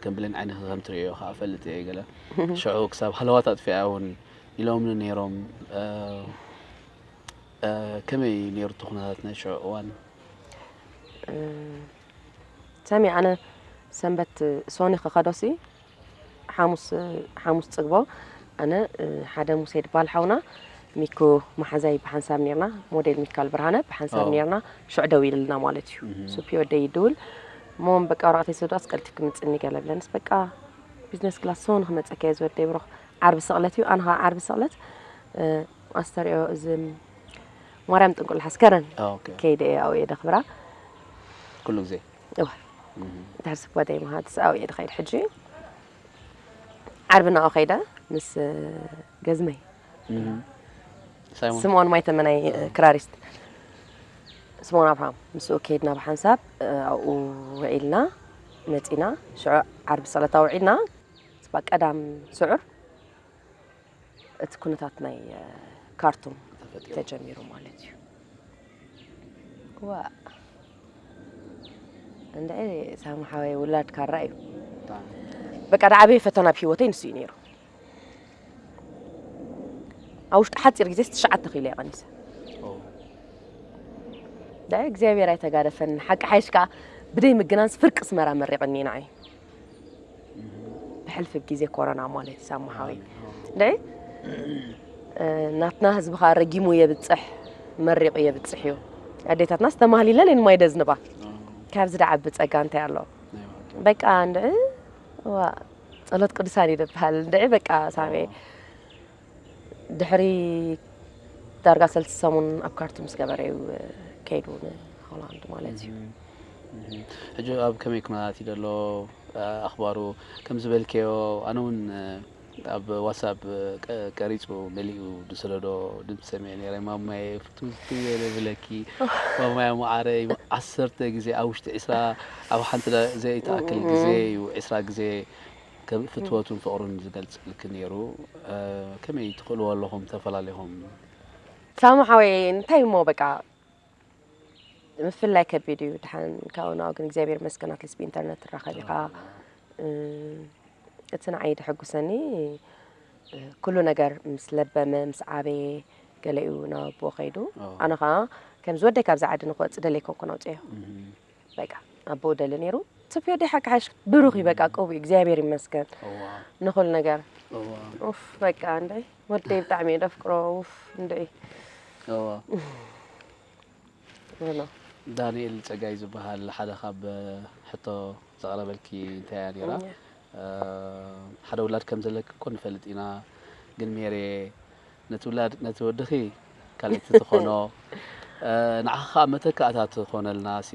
ከም ብሌን ዓይንኪ ከም ትርእዮ ከዓ ፈልጥ እየ ገለ ሽዑ ክሳብ ሃለዋት ኣጥፊኣ እውን ኢሎምኒ ነይሮም ከመይ ነይሩ እቲ ኩነታት ናይ ሽዑ እዋን ሰሚ ኣነ ሰንበት ሶኒ ክኸዶሲ ሓሙስ ሓሙስ ጽግቦ ኣነ ሓደ ሙሴ ድበሃል ሓውና ሚኩ መሓዛይ ብሓንሳብ ነርና ሞዴል ሚካል ብርሃነ ብሓንሳብ ነርና ሽዑ ደው ኢልልና ማለት እዩ ሱፒ ወደይ ይድውል እሞም በቃ ወረቐተይ ስዳስ ቀልቲ ክምፅኒ ገለብለንስ በቃ ቢዝነስ ክላስ ሰው ንክመፀካ እየ ዝወደይ ብሮኽ ዓርቢ ስቕለት እዩ ኣነ ዓርቢ ስቕለት ኣስተሪኦ እዚ ማርያም ጥንቁል ሓስከረን ከይደ እየ ኣብኡ እየ ደኽብራ ኩሉ ግዜ እዋይ ድሕር ስክባ ደይ መሃትስ ኣው እየ ድኸይድ ሕጂ ዓርቢ ናኦ ከይደ ምስ ገዝመይ ስምኦን ማይ ተመናይ ክራሪስት ስምኦን ኣብርሃም ምስኡ ከይድና ብሓንሳብ ኣብኡ ውዒልና መፂና ሽዑ ዓርቢ ፀለታ ውዒልና ስባ ቀዳም ስዑር እቲ ኩነታት ናይ ካርቱም ተጀሚሩ ማለት እዩ ዋ እንደ ሳሙ ሓወይ ውላድ ካራ እዩ በቃ ድዓበየ ፈተና ኣብ ሂወተይ ንሱ እዩ ነይሩ ኣብ ውሽጢ ሓፂር ግዜ ትሽዓተ ኪሎ እየ ቀኒሰ እግዚኣብሔር ኣይተጋደፈኒ ሓቂ ሓይሽ ከዓ ብደይ ምግናንስ ፍርቂ ስመራ መሪቕኒ ንዓይ ብሕልፊ ግዜ ኮረና ማለት እዩ ሳማሓዊ ደይ ናትና ህዝቢ ከዓ ረጊሙ የብፅሕ መሪቑ የብፅሕ እዩ ኣዴታትና ዝተማህሊለን እየን ማይ ደዝንባ ካብዚ ደዓቢ ፀጋ እንታይ ኣሎ በቃ እንድዒ ዋ ጸሎት ቅዱሳን እዩ ዝበሃል እንድዒ በቃ ሳሜ ድሕሪ ዳርጋ ሰልስተ ሰሙን ኣብ ካርቱም ምስ ገበረ እዩ ከይዱ ንሆላንድ ማለት እዩ ሕጂ ኣብ ከመይ ኩነታት እዩ ዘሎ ኣኽባሩ ከም ዝበልከዮ ኣነ እውን ኣብ ዋትሳፕ ቀሪፁ መሊኡ ዝሰደዶ ድምፂ ሰሚዐ ነይረ ማማየ ፍትውቲ ወይለ ብለኪ ማማያ መዓረይ ዓሰርተ ግዜ ኣብ ውሽጢ ዕስራ ኣብ ሓንቲ ዘይተኣክል ግዜ እዩ ዕስራ ግዜ ከብ ፍትወቱን ፍቕሩን ዝገልጸልኪ ኔሩ ከመይ ትኽእልዎ ኣለኹም ተፈላሊኹም። ሳሙ ሓወይ እንታይ እሞ በቃ ምፍላይ ከቢድ እዩ ድሓን ካብኡ ናብኡ ግን እግዚኣብሔር ይመስገን ኣትሊስት ብኢንተርነት ትራኸብ ኢኻ እቲ ንዓይ ደሐጉሰኒ ኩሉ ነገር ምስ ለበመ ምስ ዓበየ ገለኡ ናብ ኣቦኡ ከይዱ ኣነ ከዓ ከምዚ ወደይ ካብዚ ዓዲ ንክወፅእ ደለይ ኮንኩ ነውፅዮ በቃ ኣቦ ደሊ ነይሩ ትፍዮ ዲኻ ክሓሽ ብሩኽ እዩ በቃ ቀቡኡ እግዚኣብሔር ይመስገን ንኹሉ ነገር ኡፍ በቃ እንድዒ ወደይ ብጣዕሚ እየ ደፍቅሮ ኡፍ እንድዒ ዳንኤል ፀጋይ ዝበሃል ሓደ ካብ ሕቶ ዘቕረበልኪ እንታይ እያ ነይራ ሓደ ውላድ ከም ዘለኪ እኮ ንፈልጥ ኢና ግን ሜሬ ነቲ ውላድ ነቲ ወድኺ ካልእቲ ትኾኖ ንዓኺ ከኣ መተካእታ ትኾነልና ሲ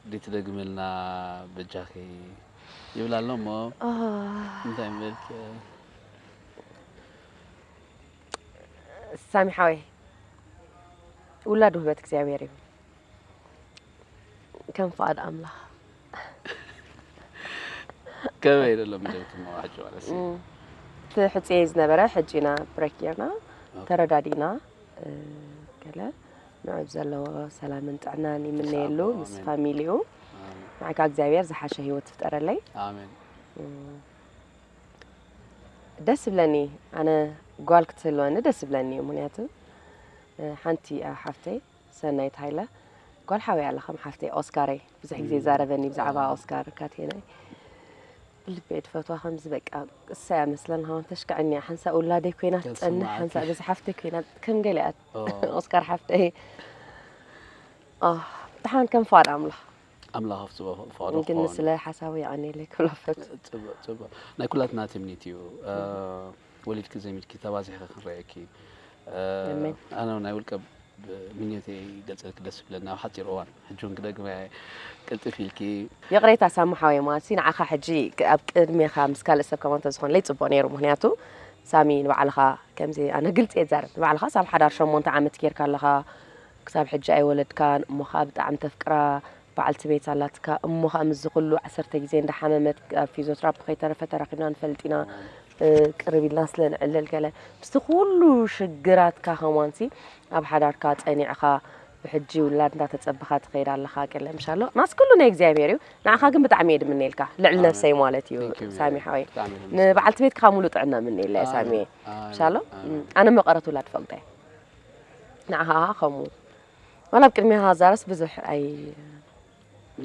ዲ ትደግምልና በጃኺ ይብላ ኣሎ እሞ እንታይ ምበልኪ ሳሚ ሓወይ ውላድ ውህበት እግዚኣብሔር እዩ ከም ፍቓድ ኣምላኽ ከመይ ደሎ ምደብ ትመዋሕጭ ማለት ትሕፅየ ዝነበረ ሕጂ ኢና ብሬክ ጌርና ተረዳዲእና ገለ ንዑብ ዘለዎ ሰላምን ጥዕናን ይምነየሉ ምስ ፋሚሊኡ ንዓካ እግዚኣብሔር ዝሓሸ ሂወት ትፍጠረለይ ኣሜን ደስ ይብለኒ ኣነ ጓል ክትህልወኒ ደስ ይብለኒ እዩ ምክንያቱ ሓንቲ ሓፍተይ ሰናይት ሃይለ ጓል ሓወይ ኣላ ከም ሓፍተይ ኦስካረይ ብዙሕ ግዜ ይዛረበኒ ብዛዕባ ኦስካር ካቴነይ ብልበይ ድፈትዋ ከምዚ በቃ እሰያ መስለን ሃውን ተሽክዐኒ እያ ሓንሳእ ውላደይ ኮይና ትፀንሕ ሓንሳእ በዚ ሓፍተይ ኮይና ከም ገለ እያ ኦስካር ሓፍተይ ብሓን ከም ፍቓድ ኣምላኽ ኣምላኽ ኣብፅኦ ፍቕዶ ግን ስለ ሓሳቡ የቐኒለይ ክብሎ ፈት ፅቡቅ ፅቡቅ ናይ ኩላትና ትምኒት እዩ ወሊድኪ ዘሚድኪ ተባዚሕኺ ክንርእየኪ ኣሜን። ኣነ ውን ናይ ውልቀ ምኞተይ ይገልፀልኪ ደስ ይብለኒ ኣብ ሓፂር እዋን ሕጂ ውን ክደግመያ እየ ቅልጥፍ ኢልኪ ይቕሬታ ሳሚ ሓወይ ማለት እዩ ንዓኻ ሕጂ ክ- ኣብ ቅድሜኻ ምስ ካልእ ሰብ ከማን ተዝኾንለይ ጽቡቕ ነይሩ ምክንያቱ ሳሚ ንባዕልኻ ከምዚ ኣነ ግልጺ እየ ዝዛረብ ንባዕልኻ ሳብ ሓዳር ሸሞንተ ዓመት ጌርካ ኣለኻ ክሳብ ሕጂ ኣይወለድካን እሞ ከኣ ብጣዕሚ ተፍቅራ በዓልቲ ቤት ኣላትካ እሞ ከኣ ምስዚ ኩሉ ዓሰርተ ግዜ እንዳ ሓመመት ኣብ ፊዞትራፒ ከይተረፈ ተራኺብና ንፈልጥ ኢና ቅርብ ኢልና ስለ ንዕልል ገለ ምስቲ ኩሉ ሽግራትካ ከማንሲ ኣብ ሓዳርካ ጸኒዕኻ ብሕጂ ውላድ እንዳ ተጸበኻ ትኸይድ ኣለኻ ገለ ምሽ ኣሎ ናስ ኩሉ ናይ እግዚኣብሄር እዩ ንዓኻ ግን ብጣዕሚ እየ ድምነየልካ ልዕሊ ነብሰይ ማለት እዩ ሳሚ ሓወይ ንበዓልቲ ቤት ከኣ ሙሉ ጥዕና ምነየላ እየ ሳሚ ምሽ ኣሎ ኣነ መቐረት ውላድ ፈልጠ እየ ንዓኻ ከምኡ ዋላ ኣብ ቅድሜኻ ክዛረብስ ብዙሕ ኣይ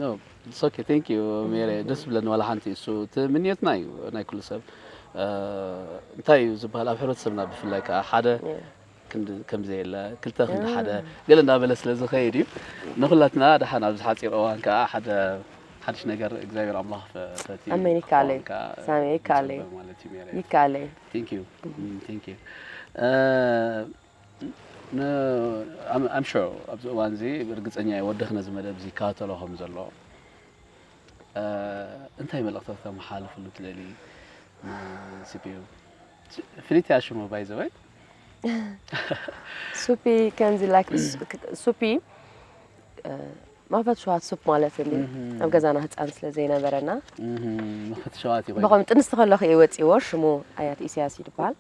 ኖ ኢትስ ኦኬ ቴንክ ዩ ሜሪ ደስ ዝብለኒ ዋላ ሓንቲ እሱ እቲ ምንየትና እዩ ናይ ኩሉ ሰብ እንታይ እዩ ዝበሃል ኣብ ሕብረተሰብና ብፍላይ ከዓ ሓደ ክንዲ ከምዘየለ ክልተ ክንዲ ሓደ ገለ እንዳበለ ስለ ዝኸይድ እዩ ንኹላትና ድሓን ኣብዚ ሓፂር እዋን ከዓ ሓደ ሓድሽ ነገር እግዚኣብሔር ኣምላኽ ፈቲ ኣሜን ይካለይ ሳሚ ይካለይ ማለት እዩ ሜሪ ይካለይ ቴንክ ዩ ቴንክ ዩ I'm sure ኣብዚ እዋን እዚ ርግጸኛ እየ ወድኽ ነዚ መደብ እዚ ይከታተሎ ከም ዘሎ እንታይ መልእኽቲ ከተመሓላልፍሉ ትደሊ ንሲፒዩ ፍልይቲ እያ ሽሙ ባይ ዘበይ ሱፒ ከምዚ ላይክ ሱፒ ማፈት ሸዋት ሱፕ ማለት እል ኣብ ገዛና ህፃን ስለ ዘይነበረና መፈት ሸዋት ዩ ብኸም ጥንስቲ ከለኹ እየ ወፂዎ ሽሙ ኣያት ኢሳያስ እዩ ድበሃል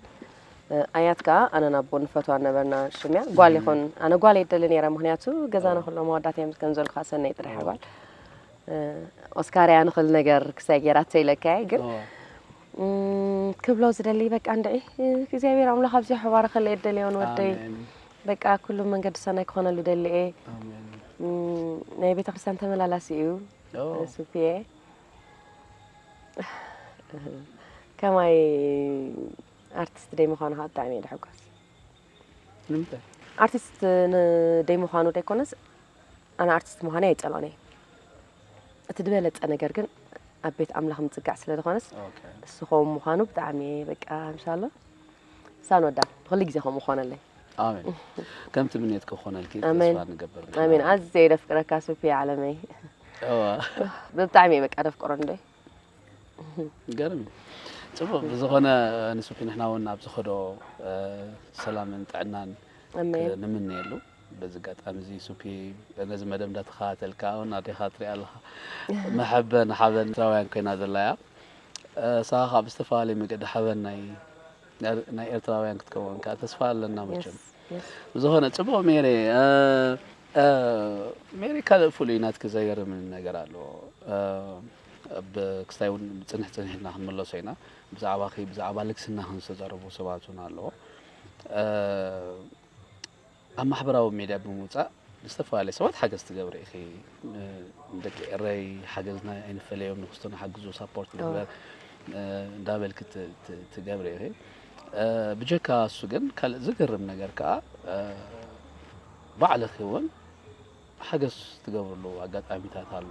ኣያት ከዓ ኣነ ናቦ ንፈትዋ ነበርና ሽምያ ጓል ይኹን ኣነ ጓል የደሊ ነረ ምክንያቱ ገዛና ክሎ መዋዳት እያ ምስ ገንዘሉ ከዓ ሰነይ ጥራሕ ጓል ኦስካር እያ ንክል ነገር ክሳይ ጌራቶ ኢለካ እየ ግን ክብሎ ዝደሊ በቃ እንድዒ እግዚኣብሔር ኣምላኽ ኣብዚሑ ባረኸለይ የደልዮን ወደይ በቃ ኩሉ መንገዱ ሰናይ ክኾነሉ ደሊ እየ ናይ ቤተክርስትያን ተመላላሲ እዩ ሱፍየ ከማይ ኣርቲስት ደይ ምዃኑ ከዓ ብጣዕሚ እየ ድሕጎስ ኣርቲስት ደይ ምዃኑ ደይኮነስ ኣነ ኣርቲስት ምዃነይ ኣይፀልኦን እየ እቲ ዝበለፀ ነገር ግን ኣብ ቤት ኣምላኽ ምፅጋዕ ስለ ዝኾነስ እሱ ኸው ምዃኑ ብጣዕሚ እየ በቃ እንሻላ ሳኖዳ ብክሊ ግዜ ከምኡ ኮነለይ። ኣሜን ከም ትምኔትኪ ክኾነልኪ ተስፋ ኣሜን ንገብር ንሕና ኣሜን ውን። ኣዝየ ደፍቅረካ ሱፍየ ዓለመይ እወ ብጣዕሚ እየ በቃ ደፍቅሮ ንደይ ገርም እዩ ጽቡቅ ብዝኾነ ንሱፊ ንሕና ውን ኣብ ዝኸዶ ሰላምን ጥዕናን ኣሜን ንምነየሉ በዚ ኣጋጣሚ እዚ ሱፒ ነዚ መደብ እንዳተኸታተል ከኣ ውን ኣዴኻ ትሪኣ ኣለኻ መሐበን ሓበን ኤርትራውያን ኮይና ዘላ እያ ንስኻ ከኣ ብዝተፈላለየ መገዲ ሓበን ናይ ኤርትራውያን ክትከውን ከኣ ተስፋ ኣለና መቸም ብዝኾነ ጽቡቕ ሜሬ ሜሬ ካልእ ፍሉይ ናትኪ ዘገርምን ነገር ኣለዎ ክስታይ እውን ፅንሕ ፅንሕ ኢልና ክንመለሶ ኢና ብዛዕባ ብዛዕባ ልግስና ክንዝተዛረቡ ሰባት እውን ኣለዎ ኣብ ማሕበራዊ ሜድያ ብምውጻእ ንዝተፈላለዩ ሰባት ሓገዝ ትገብሪ ኢኺ። ንደቂ ኤረይ ሓገዝና ኣይንፈለዮም፣ ንክስቶ ንሓግዞ ሳፖርት ንግበር እንዳበልኪ ትገብሪ ኢኺ። ብጀካ እሱ ግን ካልእ ዝገርም ነገር ከኣ ባዕልኺ እውን ሓገዝ ትገብርሉ ኣጋጣሚታት ኣሎ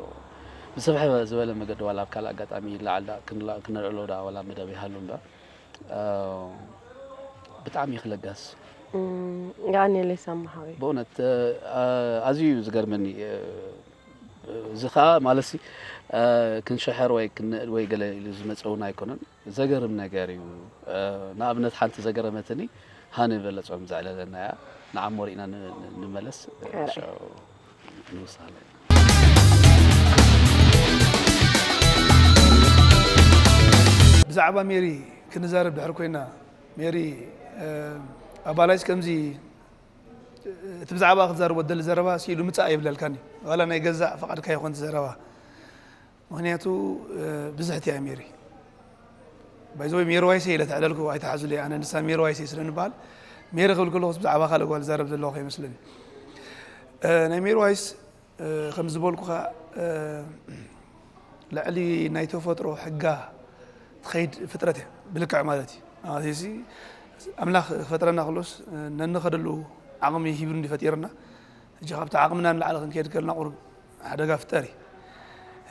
ብስፍሕ ዝበለ መገዲ ዋላ ኣብ ካልእ ኣጋጣሚ ይለዓል ዳ ክነልዕሎ ዳ ዋላ መደብ ይሃሉ እምበር ብጣዕሚ ኢኺ ለጋስ የቀኔለይ ሳማ ሓወይ ብእውነት ኣዝዩ እዩ ዝገርመኒ እዚ ከዓ ማለት ክንሸሐር ወይ ክንእድ ወይ ገለ ኢሉ ዝመፀ እውን ኣይኮነን ዘገርም ነገር እዩ ንኣብነት ሓንቲ ዘገረመትኒ ሃኒ በለጾም ዘዕለለና እያ ንዓሞ ሪእና ንመለስ ሻው ንውሳለ ብዛዕባ ሜሪ ክንዛረብ ድሕር ኮይና ሜሪ ኣባላይስ ከምዚ እቲ ብዛዕባ ክትዛርቦ ደሊ ዘረባ ስኢሉ ምፃእ የብለልካኒ ዋላ ናይ ገዛእ ፈቓድካ ይኾን ዘረባ ምክንያቱ ብዝሕት እያ ሜሪ ባይዘወይ ሜሪ ዋይሰ ኢለ ተዕለልኩ ኣይተሓዙለይ ኣነ ንሳ ሜሪ ዋይሰ ስለ ንበሃል ሜሪ ክብል ከለኹስ ብዛዕባ ካልእ ጓል ዛረብ ዘለኹ ከይመስለኒ ናይ ሜሪ ዋይስ ከም ዝበልኩኻ ልዕሊ ናይ ተፈጥሮ ሕጋ ትኸይድ ፍጥረት እያ ብልክዕ ማለት እዩ እዚ ኣምላኽ ፈጥረና ክሎስ ነንኸደሉ ዓቕሚ ሂብሩ እንዲፈጢርና እጂ ካብቲ ዓቕምና ንላዕሊ ክንከይድ ከለና ቁርብ ሓደጋ ፍጠሪ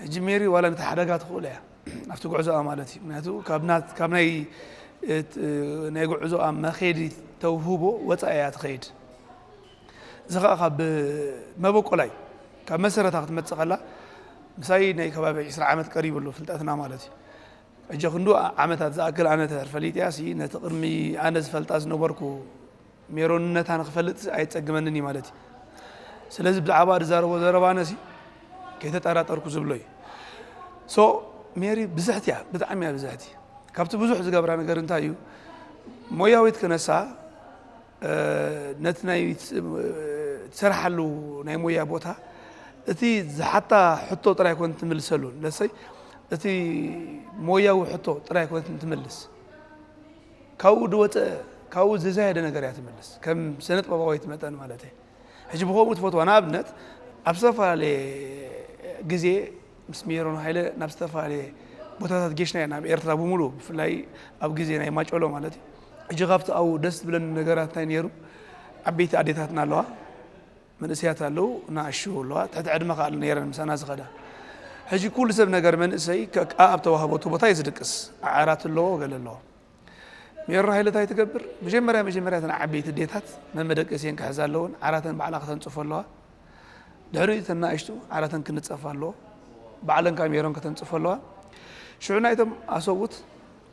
ሕጂ ሜሪ ዋላ ነቲ ሓደጋ ትኽእሎ እያ ኣብቲ ጉዕዞኣ ማለት እዩ ምክንያቱ ካብ ናይ ጉዕዞኣ መኼዲ ተውህቦ ወፃኢ እያ ትኸይድ እዚ ከዓ ካብ መበቆላ እዩ ካብ መሰረታ ክትመፅእ ከላ ምሳይ ናይ ከባቢ ዕስራ ዓመት ቀሪቡ ኣሎ ፍልጠትና ማለት እዩ ሕጂ ክንዱ ዓመታት ዝኣክል ኣነ ተርፈሊጥያ ነቲ ቅድሚ ኣነ ዝፈልጣ ዝነበርኩ ሜሮንነታ ንክፈልጥሲ ኣየጸግመንን እዩ ማለት እዩ። ስለዚ ብዛዕባ ዝዛረቦ ዘረባ ኣነሲ ከይተጠራጠርኩ ዝብሎ እዩ። So ሜሪ ብዝሕቲ እያ ብጣዕሚ እያ ብዝሕቲ። ካብቲ ብዙሕ ዝገብራ ነገር እንታይ እዩ ሞያዊት ክነሳ ነቲ ናይ ትሰርሓሉ ናይ ሞያ ቦታ እቲ ዝሓታ ሕቶ ጥራይ ኮን ትምልሰሉ ለሰይ እቲ ሞያዊ ሕቶ ጥራይ ኮን ትምልስ ካብኡ ዝወጸ ካብኡ ዝዛየደ ነገር እያ ትምልስ ከም ስነጥበባዊት መጠን ማለት እየ ሕጂ ብከምኡ ትፈትዋ ንኣብነት ኣብ ዝተፈላለየ ግዜ ምስ ሜሮን ሃይለ ናብ ዝተፈላለየ ቦታታት ጌሽና እየ ናብ ኤርትራ ብምሉ ብፍላይ ኣብ ግዜ ናይ ማጮሎ ማለት እዩ ሕጂ ካብቲ ኣብኡ ደስ ዝብለኒ ነገራት እንታይ ነይሩ ዓበይቲ ኣዴታትና ኣለዋ መንእሰያት ኣለዉ ናኣሽቱ ኣለዋ ትሕቲ ዕድመ ከኣ ነይረን ምሳና ዝኸዳ ሕጂ ኩሉ ሰብ ነገር መንእሰይ ከኣ ኣብ ተዋህቦቱ ቦታ እዩ ዝድቅስ ዓራት ኣለዎ ገለ ኣለዎ ሜሮ ሃይለ እንታይ ትገብር መጀመርያ መጀመርያ እተን ዓበይቲ ዴታት መመደቀሲየን ክሕዛ ኣለወን ዓራተን ባዕላ ከተንጽፎ ኣለዋ ድሕሪ እተን ናኣሽቱ ዓራተን ክንጸፋ ኣለዎ ባዕለን ካብ ሜሮን ከተንጽፎ ኣለዋ ሽዑ ናይቶም ኣሰውት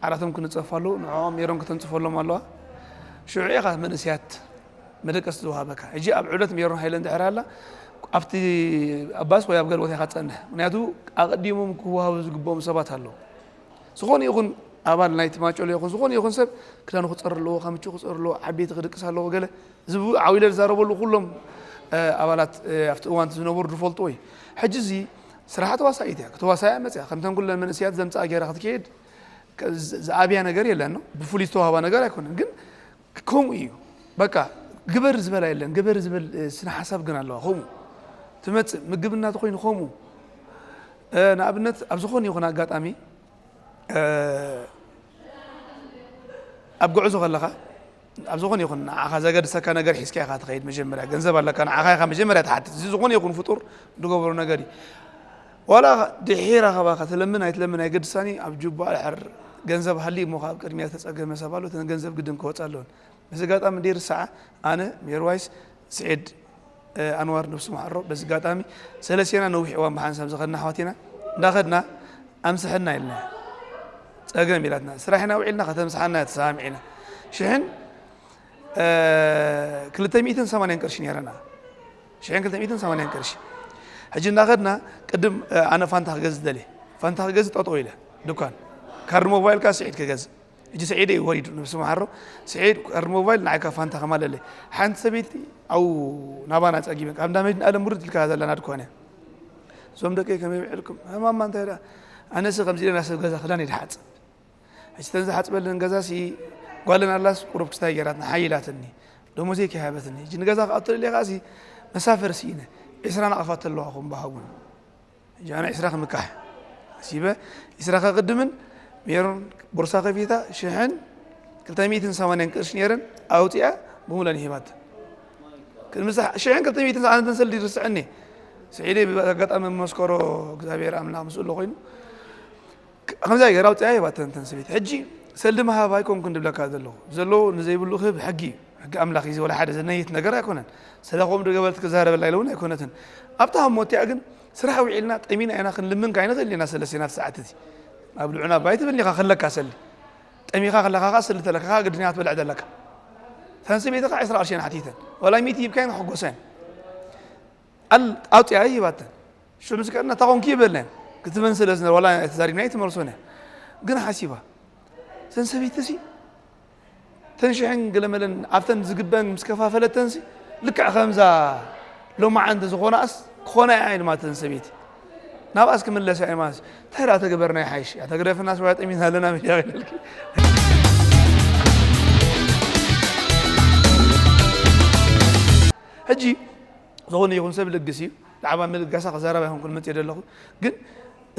ዓራቶም ክንጸፍ ኣሉ ንዕኦም ሜሮን ከተንጽፈሎም ኣለዋ ሽዑ ኢኻ መንእስያት መደቀስ ዝወሃበካ ሕጂ ኣብ ዕብለት ሜሮን ሃይለ እንድሕር ኣላ ኣብቲ ኣብ ባስ ወይ ኣብ ገለ ቦታ ኢኻ ትጸንሕ ምክንያቱ ኣቐዲሞም ክወሃቡ ዝግብኦም ሰባት ኣለዉ ዝኾነ ይኹን ኣባል ናይቲ ማጮሎ ይኹን ዝኾነ ይኹን ሰብ ክዳኑ ክፀር ኣለዎ ከምቹ ክፀር ኣለዎ ዓበይቲ ክድቅስ ኣለዎ ገለ እዚ ዓዊለ ዝዛረበሉ ኩሎም ኣባላት ኣብቲ እዋን ዝነበሩ ዝፈልጥዎ እዩ ሕጂ እዚ ስራሓ ተዋሳኢት እያ ከተዋሳያ መፅያ ከምተን ኩለን መንእስያት ዘምፅኣ ገይራ ክትከይድ ዝኣብያ ነገር የለን ነው ብፍሉይ ዝተዋህባ ነገር ኣይኮነን ግን ከምኡ እዩ በቃ ግበር ዝበላ የለን ግበር ዝብል ስነ ሓሳብ ግን ኣለዋ ከምኡ ትመፅእ ምግብ እናተኮይኑ ከምኡ ንኣብነት ኣብ ዝኾነ ይኹን ኣጋጣሚ ኣብ ጉዕዞ ከለኻ ኣብ ዝኾነ ይኹን ንዓኻ ዘገድሰካ ነገር ሒዝካ ኢኻ ትኸይድ መጀመርያ ገንዘብ ኣለካ ንዓኻ ኢኻ መጀመርያ ትሓትት እዚ ዝኾነ ይኹን ፍጡር ዝገበሮ ነገር እዩ ዋላ ድሒር ኣኸባ ከትለምን ኣይትለምን ኣይገድሳኒ ኣብ ጁባ ድሕር ገንዘብ ሃልዩ እሞ ካብ ቅድሚያ ተፀገመ ሰብ ኣሎ እተን ገንዘብ ግድን ክወፃ ኣለወን በዚ ኣጋጣሚ ደይርሳዓ ኣነ ሜርዋይስ ስዒድ ኣንዋር ነብሱ ማሓሮ በዚ ጋጣሚ ሰለስቴና ነዊሕ እዋን ብሓንሳብ ዝኸድና ኣሕዋት ኢና እንዳኸድና ኣምስሐና ኢልና ጸገም ኢላትና ስራሕ ኢና ውዒልና ከተምስሓና ተሰማሚዕና ሽሕን ክልተ ሚእትን ሰማንያን ቅርሺ ነይረና ሽሕን ክልተ ሚእትን ሰማንያን ቅርሺ ሕጂ እንዳኸድና ቅድም ኣነ ፋንታ ክገዝእ ደልየ ፋንታ ክገዝእ ጠጠው ኢለ ድኳን ካርድ ሞባይልካ ስዒድ ክገዝእ እጂ ስዒድ እዩ ወሪዱ ነብሱ መሓሮ ስዒድ ቀርኒ ሞባይል ንዓይ ካብ ፋንታ ከማለለ ሓንቲ ሰበይቲ ኣው ናባና ጸጊበን ካብ እንዳ መድን ኣለም ውርድ ኢልካ ዘለና ድኮነ እዞም ደቂ ከመይ ብዕልኩም ማማ እንታይ ደኣ ኣነሲ ከምዚ ኢለና ሰብ ገዛ ክዳን ይድሓጽ እቺ ተን ዝሓጽበለን ገዛ ሲ ጓለን ኣላስ ቁሩብ ክስታይ ገራትና ሓይላትኒ ደሞዘይ ከይሃበትኒ እጂ ንገዛ ክኣቶ ደልየ ከኣሲ መሳፈር ስኢነ ዕስራ ናቕፋት ኣለዋ ኹም በሃጉን ጃና ዒስራ ክምካሕ ኣሲበ ዒስራ ከቅድምን ሜሮን ቦርሳ ከፊታ ሽሕን ክልተ ሚእትን ሰማንያን ቅርሺ ነይረን ኣውፂኣ ብሙለን ሂባተን ቅድሚ ሽሕን ክልተ ሚእትን ዝዓነተን ሰልዲ ይርስዐኒ ስዒደይ ብኣጋጣሚ መመስከሮ እግዚኣብሔር ኣምላኽ ምስ እሎ ኮይኑ ከምዚኣ ጌራ ኣውጺኣ ሂባተን እተን ሰበይቲ። ሕጂ ሰልዲ ምሃብ ኣይኮንኩን ዝብለካ ዘለኹ። ብዘለዎ ንዘይብሉ ክህብ ሕጊ እዩ። ሕጊ ኣምላኽ እዚ ወላ ሓደ ዘነይት ነገር ኣይኮነን። ሰለ ከምኡ ዶ ገበረት ክዛረበላ ኢለ'ውን ኣይኮነትን። ኣብታ ህሞት'ቲኣ ግን ስራሕ ውዒልና ጠሚና ኢና ክንልምን ከኣ ኣይንኽእልን ኢና ሰለስቴና ኣብቲ ሰዓት እዚ። ኣብልዑና ባይ ትብልኒ ኢኻ ከለካ ሰልዲ። ጠሚኻ ከለኻ ከኣ ሰልዲ ተለካ ከኣ ግድን ኢኻ ክትበልዕ ዘለካ። እተን ሰበይቲ ከኣ ዕስራ ቅርሺ እየን ሓቲተን። ወላ ሚእቲ ሂብካየን ክሕጎሳ እየን። ቃል ኣውጺኣ ሂባተን ሽዑ ምስ ከድና እንታይ ኮንኪ ይበልና ክትበን ስለ ዝነበረ ዋላ ተዛሪብና ኣይትመልሶን እያ ግን ሓሲባ እዘን ሰበይቲ ሲ ተንሽሕን ገለመለን ኣብተን ዝግበን ምስ ከፋፈለተን ሲ ልክዕ ከምዛ ሎማዓንቲ ዝኾናስ ክኾና እያ ኢልማ እተን ሰበይቲ ናብኣስ ክምለሳ እያ ማለት እንታይ ደኣ ተገበርና ይሓይሽ እያ ተግደፍና ሰብያ ጠሚና ኣለና ሚድያ ክነልኪ ሕጂ ዝኾነ ይኹን ሰብ ልግስ እዩ ብዛዕባ ምልጋሳ ክዛረብ ኣይኮንኩን መፅየ ዘለኹ ግን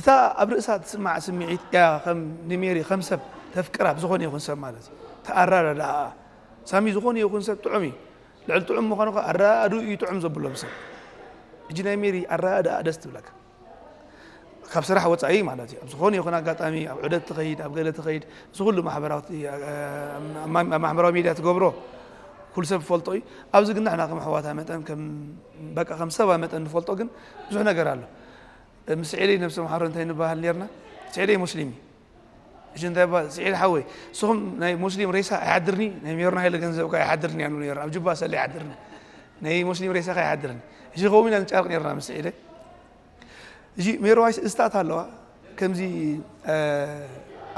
እታ ኣብ ርእሳ ትስማዕ ስምዒት እያ ከም ንሜሪ ከም ሰብ ተፍቅራ ብዝኾነ ይኹን ሰብ ማለት እዩ ተኣራዳድኣ ሳሚ ዝኾነ ይኹን ሰብ ጥዑም እዩ ልዕሊ ጥዑም ምዃኑ ኣረዳድኡ እዩ ጥዑም ዘብሎ ብሰብ እጂ ናይ ሜሪ ኣረዳድኣ ደስ ትብለካ ካብ ስራሕ ወፃኢ ማለት እዩ ኣብ ዝኾነ ይኹን ኣጋጣሚ ኣብ ዑደት ትኸይድ ኣብ ገለ ትኸይድ እዚ ኩሉ ማሕበራዊ ሚዲያ ትገብሮ ኩሉ ሰብ ፈልጦ እዩ ኣብዚ ግን ንሕና ከም ኣሕዋታ መጠን በቃ ከም ሰባ መጠን ንፈልጦ ግን ብዙሕ ነገር ኣሎ ምስ ዒለይ ነብሲ መሓሮ እንታይ ንበሃል ነርና ዒለይ ሙስሊም እዩ እሺ እንታይ እባ ስዒድ ሓወይ ንስኹም ናይ ሙስሊም ሬሳ ኣይሓድርኒ ናይ ሜሮን ሃይለ ገንዘብ እኳ ኣይሓድርኒ ያሉ ነይሩ ኣብ ጅባ ሰለ ኣይሓድርኒ ናይ ሙስሊም ሬሳ ከ ኣይሓድርኒ እሺ ከምኡ ኢና ንጫርቅ ነርና ምስ ስዒደ እሺ ሜሮዋይ ስእስታት ኣለዋ ከምዚ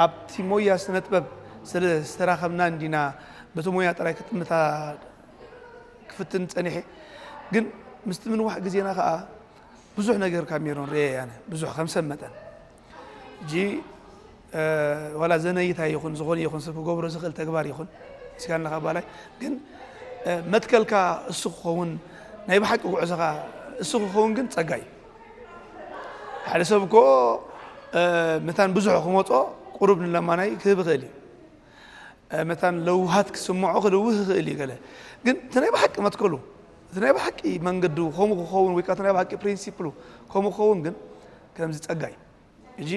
ኣብቲ ሞያ ስነ ጥበብ ስለ ዝተራኸብና እንዲና በቲ ሞያ ጥራይ ክጥምታ ክፍትን ፀኒሐ ግን ምስቲ ምንዋሕ ግዜና ከዓ ብዙሕ ነገር ካብ ሜሮን ርኤ ያነ ብዙሕ ከም ሰብ መጠን ሕጂ ዋላ ዘነይታይ ይኹን ዝኾነ ይኹን ሰብ ክገብሮ ዝኽእል ተግባር ይኹን ስጋን ንካባላይ ግን መትከልካ እሱ ክኸውን ናይ ብሓቂ ጉዕዞኻ እሱ ክኸውን ግን ጸጋ እዩ ሓደ ሰብ እኮ መታን ብዙሕ ክመፆ ቁሩብ ንለማናይ ክህብ ይኽእል እዩ መታን ለውሃት ክስምዖ ክልውህ ይኽእል እዩ ገለ ግን እቲ ናይ ብሓቂ መትከሉ እቲ ናይ ብሓቂ መንገዱ ከምኡ ክኸውን ወይ ከዓ እቲ ናይ ብሓቂ ፕሪንሲፕሉ ከምኡ ክኸውን ግን ከምዚ ጸጋ እዩ እጂ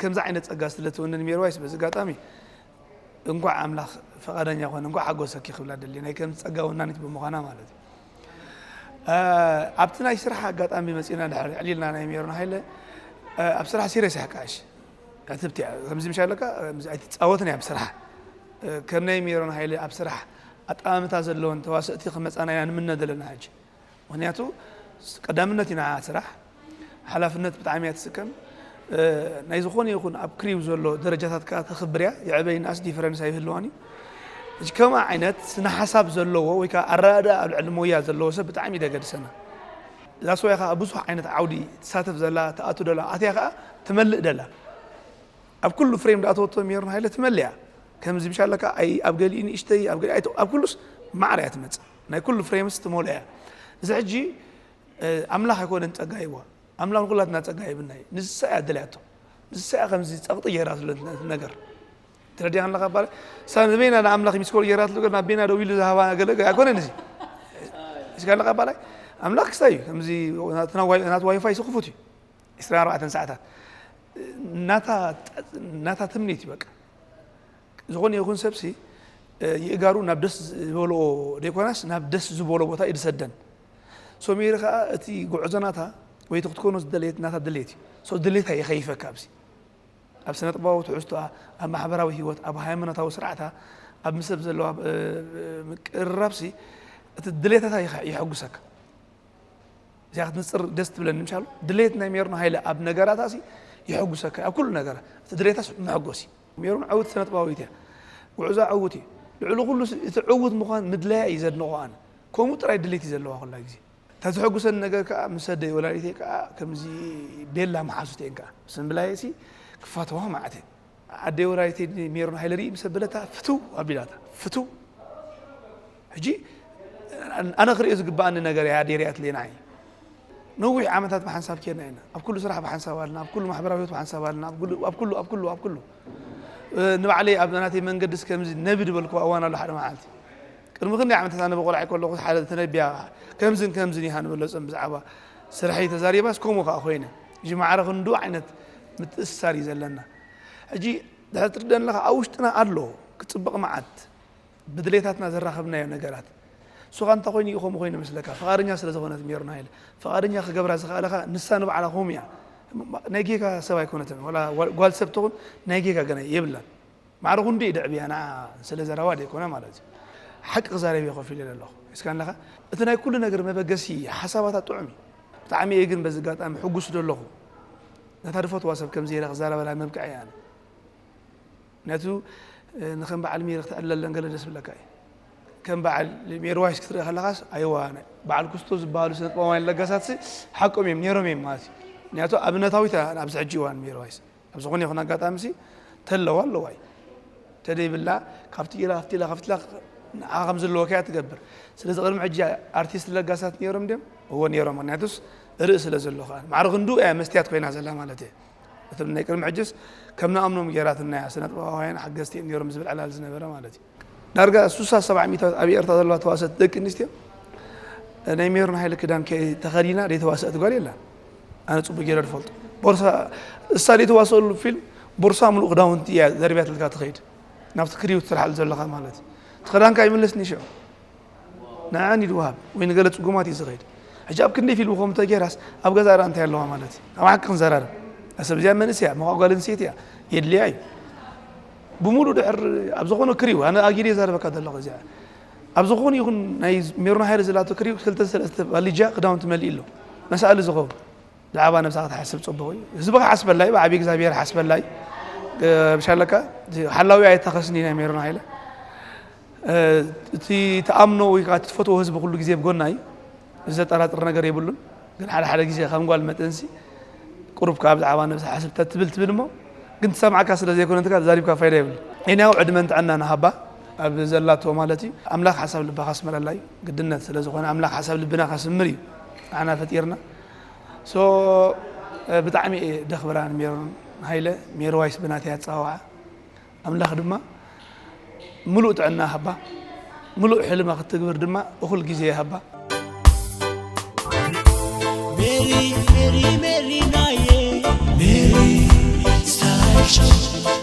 ከምዚ ዓይነት ጸጋ ስለ ትውንን ሜርዋይስ በዚ ኣጋጣሚ እንኳዕ ኣምላኽ ፈቃደኛ ኮነ እንኳዕ ሓጎሰኪ ክብላ ደልየ ናይ ከምዚ ጸጋ ወናኒት ብምዃና ማለት እዩ ኣብቲ ናይ ስራሕ ኣጋጣሚ መጺና ድሕሪ ዕሊልና ናይ ሜሮን ሃይለ ኣብ ስራሕ ሲሪየስ እያ ከዓሽ ዕትብቲ እያ ከምዚ ምሻ ኣለካ ኣይትፃወትን እያ ኣብ ስራሕ ከም ናይ ሜሮን ሃይለ ኣብ ስራሕ ኣጠማምታ ዘለዎን ተዋሰእቲ ክመፃና ኢና ንምነ ዘለና ሕጂ ምክንያቱ ቀዳምነት ኢና ስራሕ ሓላፍነት ብጣዕሚ እያ ትስከም ናይ ዝኾነ ይኹን ኣብ ክሪው ዘሎ ደረጃታት ከዓ ተኽብር እያ የዕበይ ንኣስ ዲፈረንስ ኣይህልዋን እዩ እዚ ከምኣ ዓይነት ስነ ሓሳብ ዘለዎ ወይ ከዓ ኣረዳድኣ ኣብ ልዕሊ ሞያ ዘለዎ ሰብ ብጣዕሚ ደገድሰና እዛ ሰውያ ከዓ ብዙሕ ዓይነት ዓውዲ ትሳተፍ ዘላ ትኣቱ ደላ ኣትያ ከዓ ትመልእ ደላ ኣብ ኩሉ ፍሬም ዳኣተወቶ ሜሮን ሃይለ ትመልእ እያ ከምዚ ብሻለካ ኣብ ገሊኡ ንእሽተይ ኣብ ገሊኡ ኣብ ኩሉስ ማዕረ እያ ትመፅእ ናይ ኩሉ ፍሬምስ ትመልኦ እያ እዚ ሕጂ ኣምላኽ ኣይኮነን ጸጋ ሂብዋ ኣምላኽ ንኩላትና ጸጋ ሂብና እዩ ንሳ እያ ደልያቶ ንሳ እያ ከምዚ ጸቕጢ ጌራትሉ ነገር ትረድያ ኣለካ ባለ ሳብ ንበይና ንኣምላኽ ሚስኮር ጌራትሉ ገር ናብ በይና ደው ኢሉ ዝሃባ ገለ ኣይኮነን እዚ እስካ ኣለካ ባላይ ኣምላኽ ክስታይ እዩ ከምዚ ናት ዋይፋይ ስክፉት እዩ 24 ሰዓታት ናታ ትምኒት እዩ በቃ ዝኾነ ይኹን ሰብሲ ይእጋሩ ናብ ደስ ዝበልኦ ደይኮናስ ናብ ደስ ዝበሎ ቦታ እዩ ዝሰደን ሶሜሪ ከዓ እቲ ጉዕዞ ናታ ወይ እቲ ክትኮኖ ዝደለየት ናታ ድሌት እዩ ሶ ድሌታ የኸይፈካ ኣብዚ ኣብ ስነ ጥበባዊ ትሕዝቶኣ ኣብ ማሕበራዊ ሂወት ኣብ ሃይማኖታዊ ስርዓታ ኣብ ምሰብ ዘለዋ ምቅርራብሲ እቲ ድሌታታ የሐጉሰካ እዚኣ ክትንፅር ደስ ትብለኒ ምሻሉ ድሌት ናይ ሜርኖ ሃይለ ኣብ ነገራታሲ የሐጉሰካ ኣብ ኩሉ ነገራ እቲ ድሌታስ መሐጎስ እዩ ሜሮን ዕውቲ ስነጥበባዊት እያ ጉዕዛ ዕውት እዩ ልዕሊ ኩሉ እቲ ዕውት ምኳን ምድላያ እዩ ዘድንቆ ኣነ ከምኡ ጥራይ ድሌት እዩ ዘለዋ ኩላ ግዜ እታ ዘሐጉሰኒ ነገር ከኣ ምስ ኣደይ ወላዲተይ ከኣ ከምዚ ቤላ መሓዙት እየን ከኣ ምስ ምብላየሲ ክፋተዋ መዓት እየን ኣደይ ወላዲተይ ሜሮን ሃይለ ሪኢ ምስ ኣበለታ ፍትው ኣቢላታ ፍትው ሕጂ ኣነ ክሪኦ ዝግብኣኒ ነገር እያ ኣዴርያ ትሌና እየ ነዊሕ ዓመታት ብሓንሳብ ኬድና ኢና ኣብ ኩሉ ስራሕ ብሓንሳብ ኣለና ኣብ ኩሉ ማሕበራዊ ህይወት ብሓንሳብ ኣለና ኣብ ኩሉ ኣብ ኩሉ ኣብ ኩሉ ኣብ ኩሉ ንባዕለይ ኣብ ናተይ መንገዲ ከምዚ ነቢ ዝበልኩ እዋን ኣሎ ሓደ መዓልቲ ቅድሚ ክንደይ ዓመታት ኣነ ብቆልዓይ ከለኹ ሓደ ተነቢያ ከምዝን ከምዝን ይሃ ንበለፅም ብዛዕባ ስራሕይ ተዛሪባስ ከምኡ ከዓ ኮይነ እዚ ማዕረ ክንዱ ዓይነት ምትእስሳር እዩ ዘለና ሕጂ ድሕሪ ትርደን ኣለካ ኣብ ውሽጥና ኣሎ ክፅብቕ መዓት ብድሌታትና ዘራኸብናዮ ነገራት ሱኻ እንታይ ኮይኑ እዩ ከምኡ ኮይኑ መስለካ ፍቓደኛ ስለ ዝኾነት ሜሮና ኢለ ፍቓደኛ ክገብራ ዝኽኣለ ከኣ ንሳ ንባዕላ ከምኡ እያ ናይ ጌጋ ሰብ ኣይኮነትን ወላ ጓል ሰብ ትኹን ናይ ጌጋ ገና የብላን ማዕረ ክንዲ እዩ ድዕብያ ንዓ ስለ ዘረባ ደይኮነ ማለት እዩ ሓቂ ክዛረብ እየ ኮፍ ኢለ ኣለኹ እስካ ኣለኻ እቲ ናይ ኩሉ ነገር መበገሲ ሓሳባታ ጥዑም እዩ ብጣዕሚ እየ ግን በዚ ኣጋጣሚ ሕጉስ ዶ ኣለኹ ነታ ድፈትዋ ሰብ ከምዚ ኢለ ክዛረበላ መብቅዐ እያ ነቱ ንከም በዓል ሜሪ ክትዕለለን ገለ ደስ ብለካ እዩ ከም በዓል ሜሪ ዋይስ ክትርኢ ከለኻስ ኣይዋ በዓል ኩስቶ ዝበሃሉ ስነ ጥበባውያን ለገሳትሲ ሓቆም እዮም ነይሮም እዮም ማለት እዩ ምክንያቱ ኣብነታዊት ኣብዚ ሕጂ እዋን ሜሪ ዋይስ ኣብ ዝኾነ ይኹን ኣጋጣሚ ሲ ተለዋ ኣለዋ እዩ ተደይብላ ካብቲ ኢላ ካብቲ ኢላ ካብቲ ኢላ ንዓ ከም ዘለዎ ከያ ትገብር ስለዚ ቅድሚ ሕጂ ኣርቲስት ለጋሳት ነይሮም ድም እዎ ነይሮም ምክንያቱስ ርእእ ስለ ዘሎ ከዓ ማዕረ ክንዱ እያ መስትያት ኮይና ዘላ ማለት እየ እቶም ናይ ቅድሚ ሕጅስ ከም ንኣምኖም ጌራትና እያ ስነጥበባውያን ሓገዝቲ እዮም ኔሮም ዝብል ዕላል ዝነበረ ማለት እዩ። ዳርጋ ሱሳ ሰብዓ ሚእታዊት ኣብ ኤርትራ ዘለዋ ተዋሰእቲ ደቂ ኣንስትዮ ናይ ሜሮን ሃይለ ክዳን ከይ ተኸዲና ዘይተዋሰእት ጓል የላን። ኣነ ጽቡቅ ጌረ ዝፈልጦ ቦርሳ እሳ ዘይተዋሰእሉ ፊልም ቦርሳ ምሉእ ክዳውንቲ እያ ዘርብያትልካ ትኸይድ ናብቲ ክሪው ትሰርሓሉ ዘለኻ ማለት እዩ። እቲ ክዳንካ ይምለስ ኒሸ። ንዕዐን እዩ ዝወሃብ ወይ ንገለ ፅጉማት እዩ ዝኸይድ ሕጂ ኣብ ክንደይ ፊልም ከምኡ ተገይራስ ኣብ ገዛ ራ እንታይ ኣለዋ ማለት እዩ ኣብ ሓቂ ክንዘራርብ ሰብ እዚኣ መንእስ እያ መኳ ጓል ኣንስተይቲ እያ የድልያ እዩ ብምሉእ ድሕር ኣብ ዝኾነ ክሪው ኣነ ኣጊደ ዘረበካ ዘለኹ እዚኣ ኣብ ዝኾነ ይኹን ናይ ሜሮን ሃይለ ዘላቶ ክሪው ክልተ ሰለስተ ባሊጃ ክዳውንቲ መሊእ ኣሎ መሳእሊ ዝኸውን ብዛዕባ ነብሳ ክትሓስብ ጽቡቕ እዩ ህዝቢ ክሓስበላይ ብዓቢ እግዚኣብሔር ሓስበላይ ብሻለካ ሓላዊ ኣይታኸስኒ ናይ ሜሮን ሃይለ እቲ ተኣምኖ ወይ ከዓ ትፈትዎ ህዝቢ ኩሉ ግዜ ብጎና እዩ እዚ ዘጠራጥር ነገር የብሉን ግን ሓደ ሓደ ግዜ ከም ጓል መጠንሲ ቁሩብ ከዓ ብዛዕባ ነብሲ ሓስብ ተትብል ትብል እሞ ግን ትሰምዓካ ስለ ዘይኮነ እንትካ ዛሪብካ ፋይዳ ይብሉ ዒንያው ዕድመን ጥዕና ንሃባ ኣብ ዘላቶ ማለት እዩ ኣምላኽ ሓሳብ ልባ ካስመረላ እዩ ግድነት ስለ ዝኾነ ኣምላኽ ሓሳብ ልብና ካስምር እዩ ንዓና ፈጢርና So ብጣዕሚ እየ ደክብራ ንሜሮን ሃይለ ሜሮዋይ ስብ ናተይ ኣጸዋውዓ ኣምላክ ድማ ምሉእ ጥዕና ይሃባ ምሉእ ሕልማ ክትግብር ድማ እኩል ግዜ ይሃባ። Meri, Meri, Meri, Naye. Meri, Star Show.